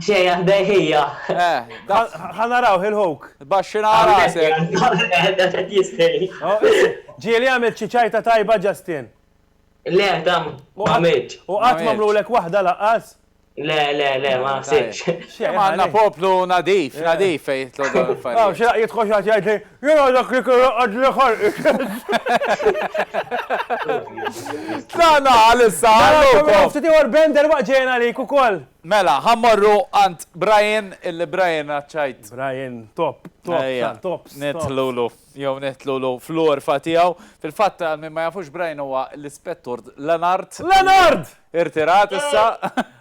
B: Xejn aħdej
H: hija. Eh, dak.
C: Ħa narawh il-ħuk. Baxxina rasek.
B: Qed jistħi.
C: Ġieli għamilt xi ċajta tajba Justin. Le,
H: tam, ma għamilx. U qatt m'għamlulek
C: waħda laqqas? Le, le, le,
H: ma naħsibx. Xejn għandna poplu
B: nadif, nadif fejn jitlu dan il-affarijiet. Xi jidħol xi
C: ħadd jgħidli Jien għadek li kelli għadli ħalqi x'għedt!
B: Tlaqna għal issa għal Low Comm. Narakom ftit ieħor Ben derwaqt
C: ġejjin għalik ukoll. Mela, ħa mmorru
B: għand Brian, illi Brian għaċċajt. Brian top,
C: top tal-tops.
B: Nidħlulu, jew nidħlulu fl-għorfa tiegħu. Fil-fatt, għal min ma jafux Brian huwa l-Ispettur Lenard. Lenard! Irtirat issa.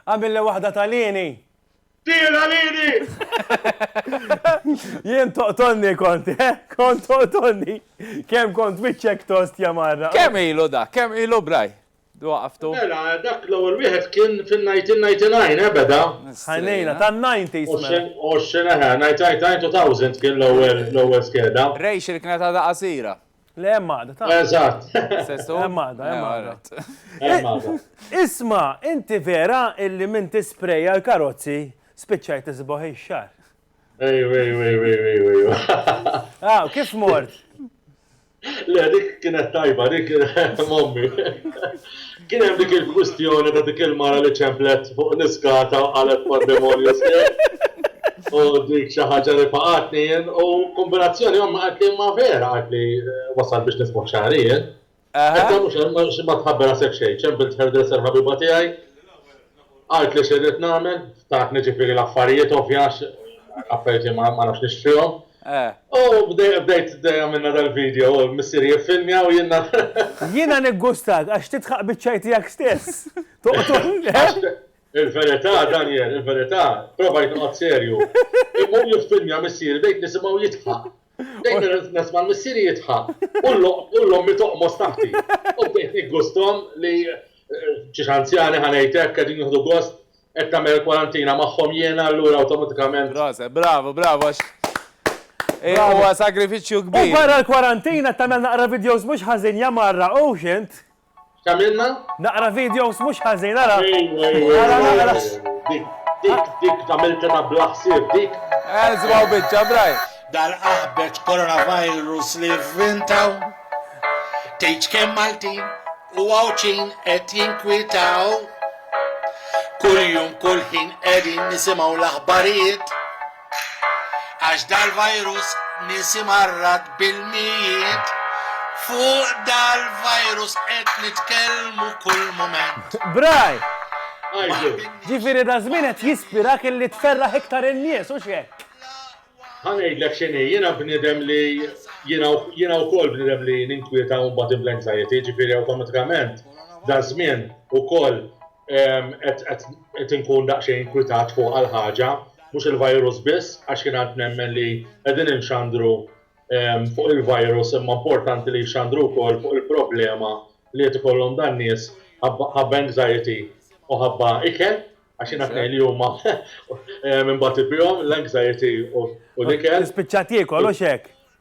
B: Għamilli waħda
C: ta' lieni. Tira
M: lili!
C: Jien toqtonni kont, eh? Kont toqtonni. Kem kont wiċċek tost jamarra. Kem ilu da? Kem
B: ilu braj? Du għaftu? Mela, dak
M: l-ewel wieħed kien fin-1999, eh, beda? Ħanejna, ta' 90s.
C: Mela. Oxxen, eħe, 1999
M: kien l-ewel skeda. Rej xirkna ta' da'
B: qasira. Le, hemm għada, ta'.
C: Eżatt.
M: Sesu? Hemm għada, hemm
C: għada. Isma, inti vera illi minn tispreja l-karozzi spiċċaj tisbaħ ix-xar. Ej, ej, ej, ej, ej,
M: ej. Ah, kif
C: mort?
M: Le, dik kienet tajba, dik kienet mommi. Kien hemm dik il-kwistjoni ta' dik il-mara li ċemplet fuq l-iskata u qalet pandemonju sħiħ u dik xi ħaġa li faqatni jien u kombinazzjoni ommi qaltli imma vera qaltli wasalt biex nismuh xagħri jien. Qedtilha mhux hekk xi ma tħabber rasek xejn, ċempilt hairdresser ħabiba tiegħi Għidt li xirrid nagħmel, ftakni ġifieri l-affarijiet ovvji għax l-affarijiet li ma nafx nixtrihom. U bdejt għamilna dal-video, u l-missieri jiffilmja u jiena. Jiena
C: niggustat għax tidħaq biċ-ċaj tiegħek stess. Toqtol, le?
M: Il-verità, Daniel, il-verità, provajt noqgħod serju. Imma hu jiffilmja missieri bdejt nisimgħu jidħaq. Dejjem irrid nesma' l-missieri jidħaq u l-ommi toqmos taħti. U bdejt niggusthom li xi anzjani ħa ngħid hekk qegħdin jieħdu gost qed tagħmel il-kwarantina magħhom jiena allura awtomatikament. Proset, bravu, bravu
B: għax huwa sagrifiċċju kbir. U barra l-kwarantina
C: qed tagħmel naqra vidjows mhux ħażin ja marra hux int. X'tagħmilna?
M: Naqra videos
C: mhux ħażin ara! Ara naqra!
M: Dik dik tagħmiltha ta' bla ħsieb dik! Eżgħu biċċa
B: braj! Dal-aħbeġ
A: coronavirus li vvintaw Tgħidx kemm Maltin u Għawdxin qed jinkwitaw Kuljum kull ħin qegħdin nisimgħu l-aħbarijiet Għax dal-virus nies imarrad bil-mijiet Fuq dal-virus qed nitkellmu kull mument. Bray!
C: Ġifieri daż-żmien qed jispirak illi tferraħ iktar in-nies, hux hekk? Ħa ngħidlek
M: x'inhi, jiena bniedem li jiena jiena wkoll bniedem li ninkwieta u nbati bl-anxiety, ġifieri awtomatikament daż-żmien ukoll qed inkun daqsxejn inkwitat fuqha l-ħaġa, mhux il-virus biss, għax jien għad nemmen li qegħdin inxandru fuq il-virus imma importanti li jxandru wkoll fuq il-problema li qed ikollhom dan nies ħabba anxiety u ħabba ikel, għax jien għad ngħid li huma imbagħad ibihom l-anxiety u l-ikel. Spiċċat jiekol hux
C: hekk?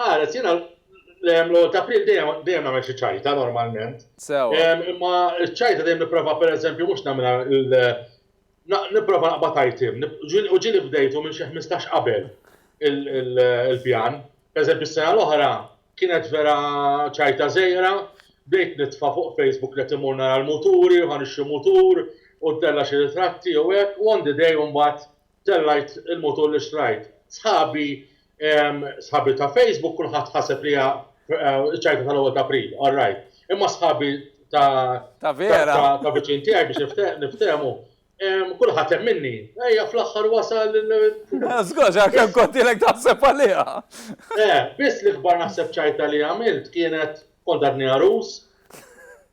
C: Qalet,
M: Jiena l-ewwel ta' April dejjem nagħmel xi ċajta normalment. Sewwa. Imma
B: ċ-ċajta
M: dejjem nipprova pereżempju mhux nagħmilha l nipprova naqbad item. U ġieli bdejtu minn xi ħmistax qabel il-pjan. Pereżempju s-sena l-oħra kienet vera ċajta żgħira, bdejt nitfa' fuq Facebook li qed immur nara l-muturi u ħa nixtri mutur u ntella' xi ritratti u hekk u on the day mbagħad Tellajt il-mutur li xtrajt. Sħabi sħabi ta' Facebook kulħadd ħaseb li hija ċ-ċajta tal-ewwel ta' April, all right. Imma sħabi ta' Ta' vera. ta' viċin tiegħi biex niftehmu, kulħadd hemm minni. Ejja fl-aħħar wasal il. Żgur,
B: għax kemm kont ilek taħseb għaliha. Eh, biss
M: l-ikbar naħseb ċajta li għamilt kienet kont għadni għarus.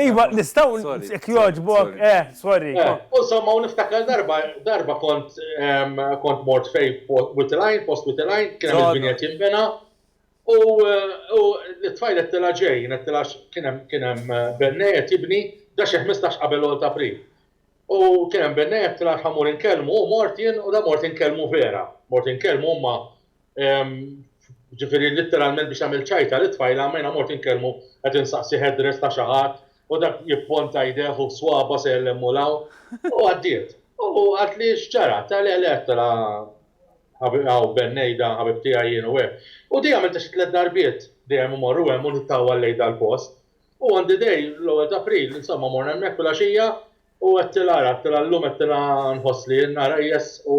B: Iva,
C: nistaw, jek joġbok, eh, sorry. Eh, u somma, u
M: niftakar darba, darba kont, kont mort fej Witteline, post Witteline, kien hemm il-binjet jimbena, u l-tfajl qed tila ġej, qed tila kien hemm eh, bennej qed jibni, da xi 15 qabel l ta' April. U kien hemm bennej qed tila ħamur inkellmu, u mort jien u da mort inkellmu vera, mort inkellmu huma Ġifieri litteralment biex tagħmel ċajta lit-tfajla ma jiena mort inkellmu qed insaqsi headdress ta' xi ħadd u dak jipponta jdejh u swaba' sejjer 'l hemm u 'l hawn. U għaddiet. U qaltli x'ġara? Għedtilha le le, għedtilha hawn Ben ngħidha, ħabib tiegħi jien u hekk. U dejjem għamiltha xi tliet darbiet, dejjem immorru hemm u nittawwal lejn dal-post. U on the day, l-ewwel ta' April, insomma morna hemmhekk filgħaxija u għedtilha ara, għedtilha llum għedtilha nħoss li n-nhar qejjeż u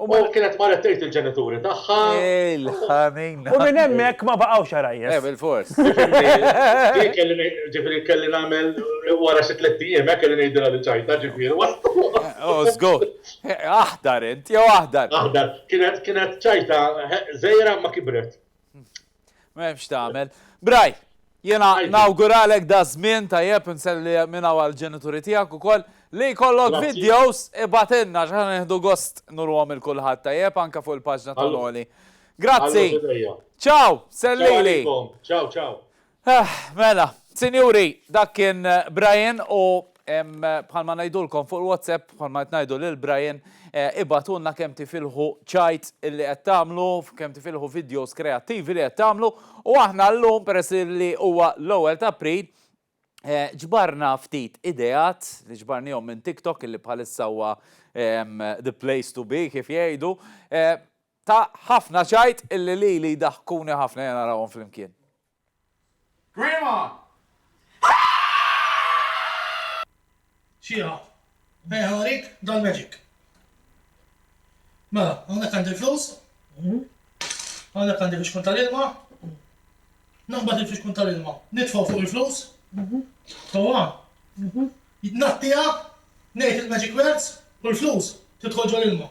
M: U ma kienet marret tgħid il-ġenituri tagħha. Il-ħanin.
B: U minn
C: hemmhekk ma baqgħux għarajjes. Eh, bil-fors.
M: Ġifieri kelli nagħmel wara xi tliet ijiem, eh, kelli ngħidilha li ċajta, ġifieri waslu. Oh,
B: żgur. Aħdar int, jew aħdar. Aħdar. Kienet
M: ċajta żgħira ma kibret. M'hemm
B: x'tagħmel. Braj, jiena nawguralek da żmien tajjeb inselli minna għal ġenituri tiegħek ukoll li jkollok videos ibatilna x'ħan nieħdu gost nurhom il kulħadd tajjeb anke fuq il-paġna ta' Loli. Grazzi. Ciao, sellili. Ciao, ciao.
M: Eh, mela,
B: sinjuri, dak kien Brian u Bħalma ngħidulkom fuq il-WhatsApp, bħalma qed ngħidu lil Brian, eh, ibatulna kemm tifilħu ċajt li qed tagħmlu, kemm tifilħu videos kreattivi li qed tagħmlu, u aħna llum peress li huwa l-ewwel ta' April, eh, ġbarna ftit ideat li ġbarnihom minn TikTok illi bħalissa huwa the place to be kif jgħidu, eh, Ta ħafna ċajt illi lili jdaħkuni ħafna jena narawhom flimkien.
A: Grandma! Xieha, bejgħ ħarik dal magic. Mela, hawnhekk għandi l-flus, hawnhekk għandi fixkun tal-ilma, naqbad il-fixkun tal-ilma, nitfgħu fuq il-flus, sewwa, ngħattiha, ngħid il-magic words u l-flus tidħol ġol-ilma.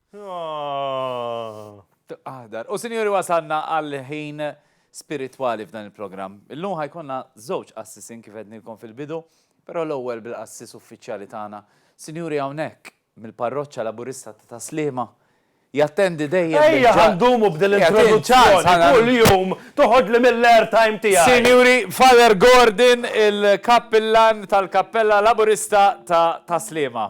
B: Aħdar. U sinjuri wasalna għal ħin spiritwali f'dan il-programm. Illum ħajkonna żewġ qassisin kif għednilkom fil-bidu, però l-ewwel bil-qassis uffiċjali tagħna. Sinjuri hawnhekk mill-parroċċa Laburista ta' Taslima jattendi dejjem. Ejja ħandumu b'din
C: l-introduzzjoni kuljum toħodli mill-airtime tiegħi. Sinjuri, Father
B: Gordon, il-Kappillan tal-Kappella Laburista ta' Taslima.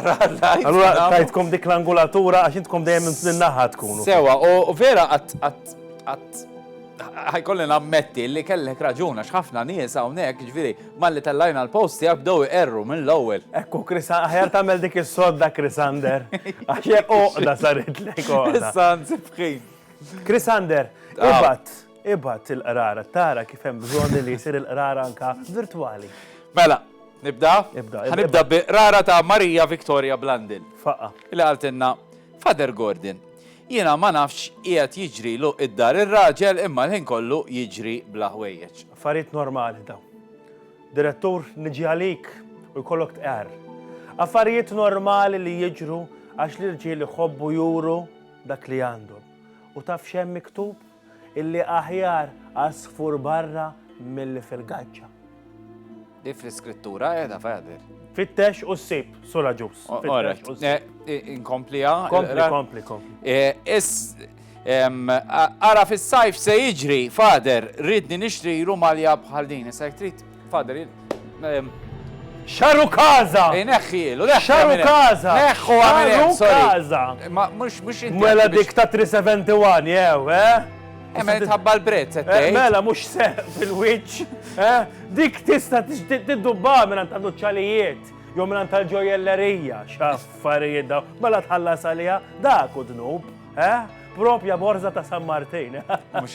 B: Allura tajtkom dik
C: l-angulatura għax intkom dejjem naħa tkunu. Sewa, u vera
B: għat ħajkolli nammetti li kellek raġuna x'ħafna nies hawnhekk, ġifieri malli tellajna l-post tiegħek bdew iqerru minn l-ewwel. Ekku Krisa, aħjar
C: tagħmel dik is-sodda Krisander. Għax hekk oqda saritlek. Issa nsibħin.
B: Krisander,
C: ibat. Ibgħat il-qrara tara kif hemm bżonn li jsir il-qrara anke virtwali. Mela,
B: nibda? Ibda. Nibda bi qrara ta' Marija Victoria Blandin. Faqqa. Li qaltilna, Father Gordon, jiena ma nafx qiegħed jiġrilu id-dar ir-raġel imma l-ħin kollu jiġri bla ħwejjeġ. Affarijiet normali
C: dawn. Direttur niġi għalik u jkollok tqar. Affarijiet normali li jiġru għax l-irġiel iħobbu juru dak li għandhom. U taf x'hemm miktub? Illi aħjar għasfur barra milli fil-gaġġa.
B: Di fl-iskrittura qiegħda Fadir. Fittex u
C: ssib, sura ġus. Inkomplija.
B: Kompli, kompli,
C: kompli.
B: Ara fis-sajf se jiġri, fader, ridni nixtri rumalja bħal din, se trid Fadri, ehm,
C: Xaru kaza! Ineħħi, eh, l
B: Xaru kaza!
C: Neħħu għamil
B: kaza! Ma
C: mux mux inti.
B: Mela dik ta' 371, jew,
C: eh? eh mela
B: tħabba l-prezz, eh, Mela mux se
C: fil-witch, eh? Dik tista tiddubba minn mela ta' nuċċalijiet, jew minn tal-ġojellerija, xaffarijiet daw, mela tħallas għalija, dak u dnub, eh? Propja borza ta' San Martin. Mux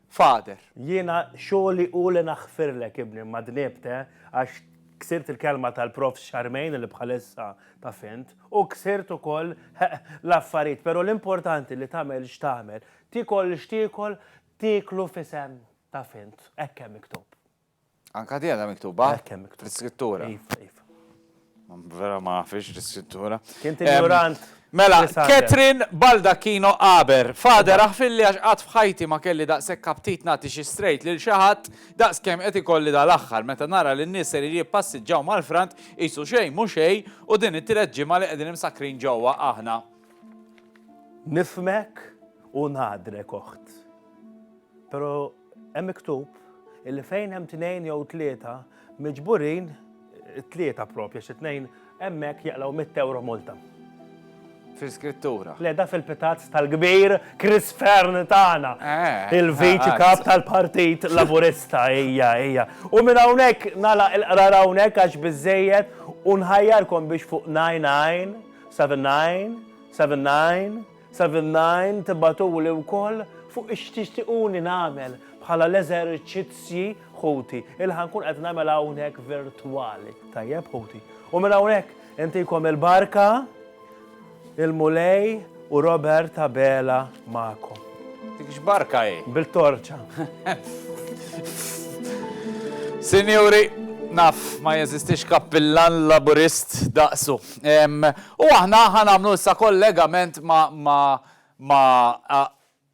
B: Father. Jiena
C: xogħli hu li naħfirlek ibni imma dniebt eh, għax ksirt il-kelma tal-Profs Charmaine li bħalissa taf int, u ksirt ukoll l-affarijiet, pero l-importanti li tagħmel x'tagħmel, tiekol x'tiekol, tieklu f'isem taf int, hekk hemm miktub. Anka di
B: għadha miktuba? Hekk hemm miktuba. L-iskrittura. Iva, iva. Vera ma nafix l-iskrittura. Kien tinjurant.
C: Mela,
B: Catherine Baldacchino Aber, fader aħfilli għax qatt f'ħajti ma kelli daqshekk aptit nagħti xi strejt lil xi ħadd daqs kemm qed ikolli dal-aħħar meta nara li n-nies ser jippassiġġaw mal-frant qisu xejn mhu xejn u din it-tielet ġimgħa li qegħdin imsakkrin ġewwa aħna. Nifhmek
C: u ngħadrek oħt. Però hemm miktub illi fejn hemm tnejn jew tlieta miġburin tlieta propja xi tnejn hemmhekk jaqlaw mitt ewro multa.
B: Fil-skrittura. Le da
C: fil-pitazz tal-kbir Chris Fern tagħna. Eh, Il-viċi eh, kap tal-Partit Laburista hija hija. U minn hawnhekk nala il-qrar hawnhekk għax biżejjed u nħajjarkom biex fuq 99 79 79 Seven-Nine tibagħtuli wkoll fuq x'tixtiquni nagħmel bħala l-eżerċizzji ħuti li ħa nkun qed nagħmel hawnhekk virtwali. Tajjeb ħuti. U minn hawnhekk intikom il-barka, il-Mulej u Robert Abela magħkom. Dik x'barka
B: hi? Bil-torċa. Sinjuri, naf ma jeżistix kappillan Laburist daqsu. U aħna ħa nagħmlu issa kollegament ma'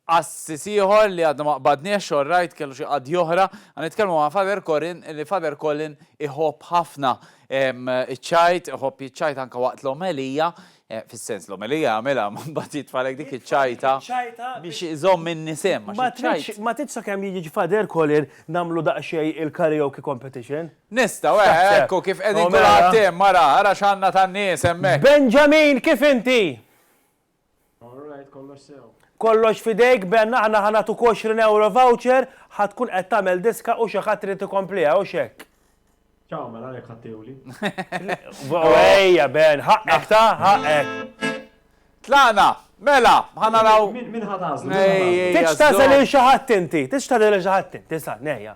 B: qassis ieħor li għadna ma qbadniex, xorrajt, kellu xi qadja oħra, ħa nitkellmu ma' Father Colin, li Father Colin iħobb ħafna iċ-ċajt, iħobb jiċċajt anke waqt l-omelija, fis-sens l-omelija jagħmilha ma mbagħad jitfagħlek dik iċ-ċajta biex iżomm in-nisien. Ma tridx
C: sakemm jiġi Father Colin nagħmlu daqsxejn il-karaoke competition? Nistgħu, eh, X'taħseb?
B: ekku kif qegħdin Omera. kulħadd hemm, ara, ara x'għandna tan-nies hemmhekk. Benjamin, kif
C: inti? All right, kollox sew. Kollox f'idejk, Ben, aħna ħa nagħtuk 20 ewro voucher, ħa tkun qed tagħmel diska u xi ħadd irid ikompliha, hux hekk? Ciao, mela
N: għalhekk ħadtiewli. U
C: ejja, Ben, ħaqqek ta, ħaqqek. Tlaqna,
B: mela, ħa naraw. Min min ħad għażlu?
N: Ej, ej, Titx tażel żomm.
C: lil xi ħadd inti, titx tażel lil xi ħadd inti, sa, nejja.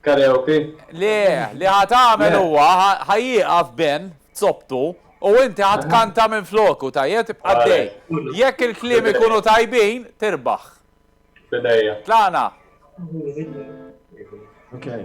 F: Karaoke? Le,
B: li ħa tagħmel huwa ħa jieqaf Ben f'zoptu u inti ħa tkanta minfloku, tajjeb? Tibqa' għaddej. Jekk il-kliem ikunu tajbin, tirbaħ. F'idejja.
F: Tlaqna.
N: Okay.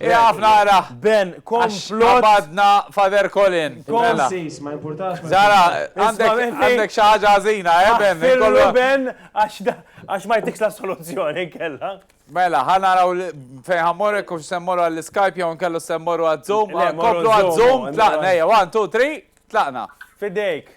B: Iqaf nara. Ben, komplot.
C: Badna Fader
B: Colin. Mela. Sis, ma
N: importax. Zara,
B: għandek xaħġa għazina, eh, Ben? Kollu Ben,
C: għax ma jtikx la soluzzjoni kella. Mela, ħana raw
B: fejn ħammorek kux semmorru għall-Skype jew nkellu semmorru għad-Zoom. Komplu għad-Zoom, tlaqna, 1, 2, 3, tlaqna. Fidejk.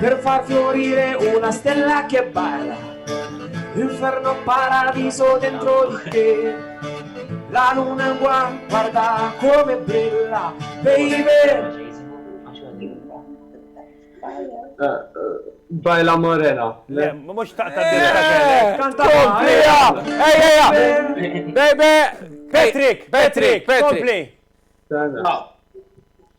N: Per far fiorire una stella che balla, inferno paradiso dentro di te. La luna in guan, guarda come brilla, baby. Bajla
O: Morena. Le, mux
C: taqta eh, Kanta Komplija!
B: Ejja! Bebe! Patrick! Patrick!
C: Patrick! Kompli!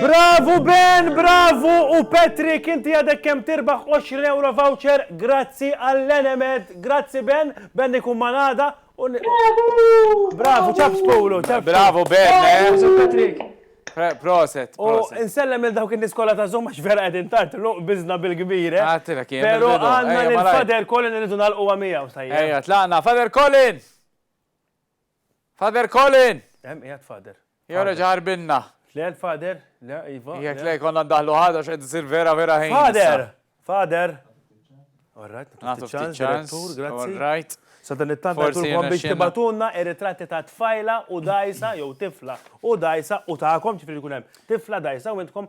C: Bravu Ben, bravu u Patrick inti għadek kemm tirbaħ 20 euro voucher grazzi għall-Enemed. Grazzi Ben, Ben ikun mal-għada u Bravu, ċabs Pulu, ċabs. Bravu Ben, eh? Patrick. Proset, proset.
B: U insellem
C: il dawk in-niskola ta' zom għax vera qegħdin tard luq biżna bil-kbir. Eh? Għatilek ah, jien. Però
B: għandna
C: l-Fader Colin irridu nagħlqu għamija u sajja. Ejja, tlaqna,
B: Fader Colin! Father Colin! Hemm qiegħed Father.
C: Jew reġa' ħarbinna.
B: Le l-Father,
C: le, iva. Jekk le jkollna ndaħħlu
B: ħadd għax qed isir vera vera ħin. Father! Father!
C: All
B: right, nagħtu ftit ċans, grazzi. All right. Sadan it-tant
C: għatulkom biex tibatunna ir-ritratti ta' tfajla u dajsa jew tifla u dajsa u ta'kom ġifri jkun hemm tifla dajsa u intkom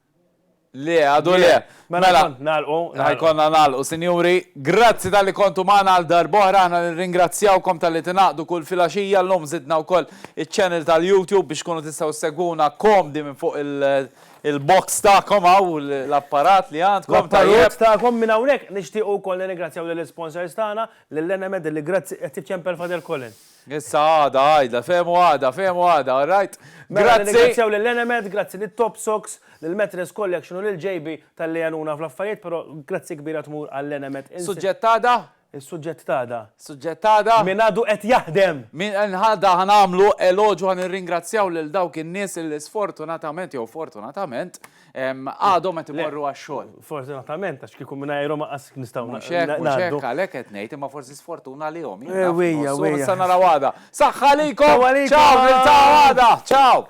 C: Le,
B: għadu le. Mela, mela. nalqu.
C: Ħajkonna nalqu,
B: sinjuri. Grazzi tal-li kontu maħna għal darbohra, ħna nirringrazzjawkom tal-li tinaqdu kull filaxija, l-lum zidna u koll il-channel tal-YouTube biex kunu tistaw segwuna komdi minn fuq il-box ta'kom għaw l-apparat li għandkom. L-apparat ta'kom
C: minn għawnek, nishtiqu koll nirringrazzjaw l-sponsors ta'na, l-Lenemed li grazzi għettif ċempel Fader Colin. Issa għada
B: għida, fehmu għada, fehmu għada, all right? Mela, Grazzi! nirringrazzjaw
C: lil Enemed, grazzi lit-Top Sox, lill-Mattress Collection u lil JB talli għenuna fl-affarijiet, però grazzi kbira tmur għal Enemed. Suġġett t'għada?
B: Is-suġġett t'għada.
C: Suġġett t'għada?
B: Min għadu qed
C: jaħdem! Min għada ħa
B: nagħmlu eloġju, ħa nirringrazzjaw lil dawk in-nies li sfortunatament jew fortunatament, Għadhom qed imorru għax-xogħol. Fortunatament, għax kieku
C: mingħajrhom qas nistgħu ngħaddu. Mhux hekk, mhux hekk, għalhekk
B: qed ngħid, imma forsi sfortuna għalihom. Ewwejja, ewwejja. Sa naraw għada. Saħħa għalikom! Ċaw, niltaqgħu għada! Ċaw!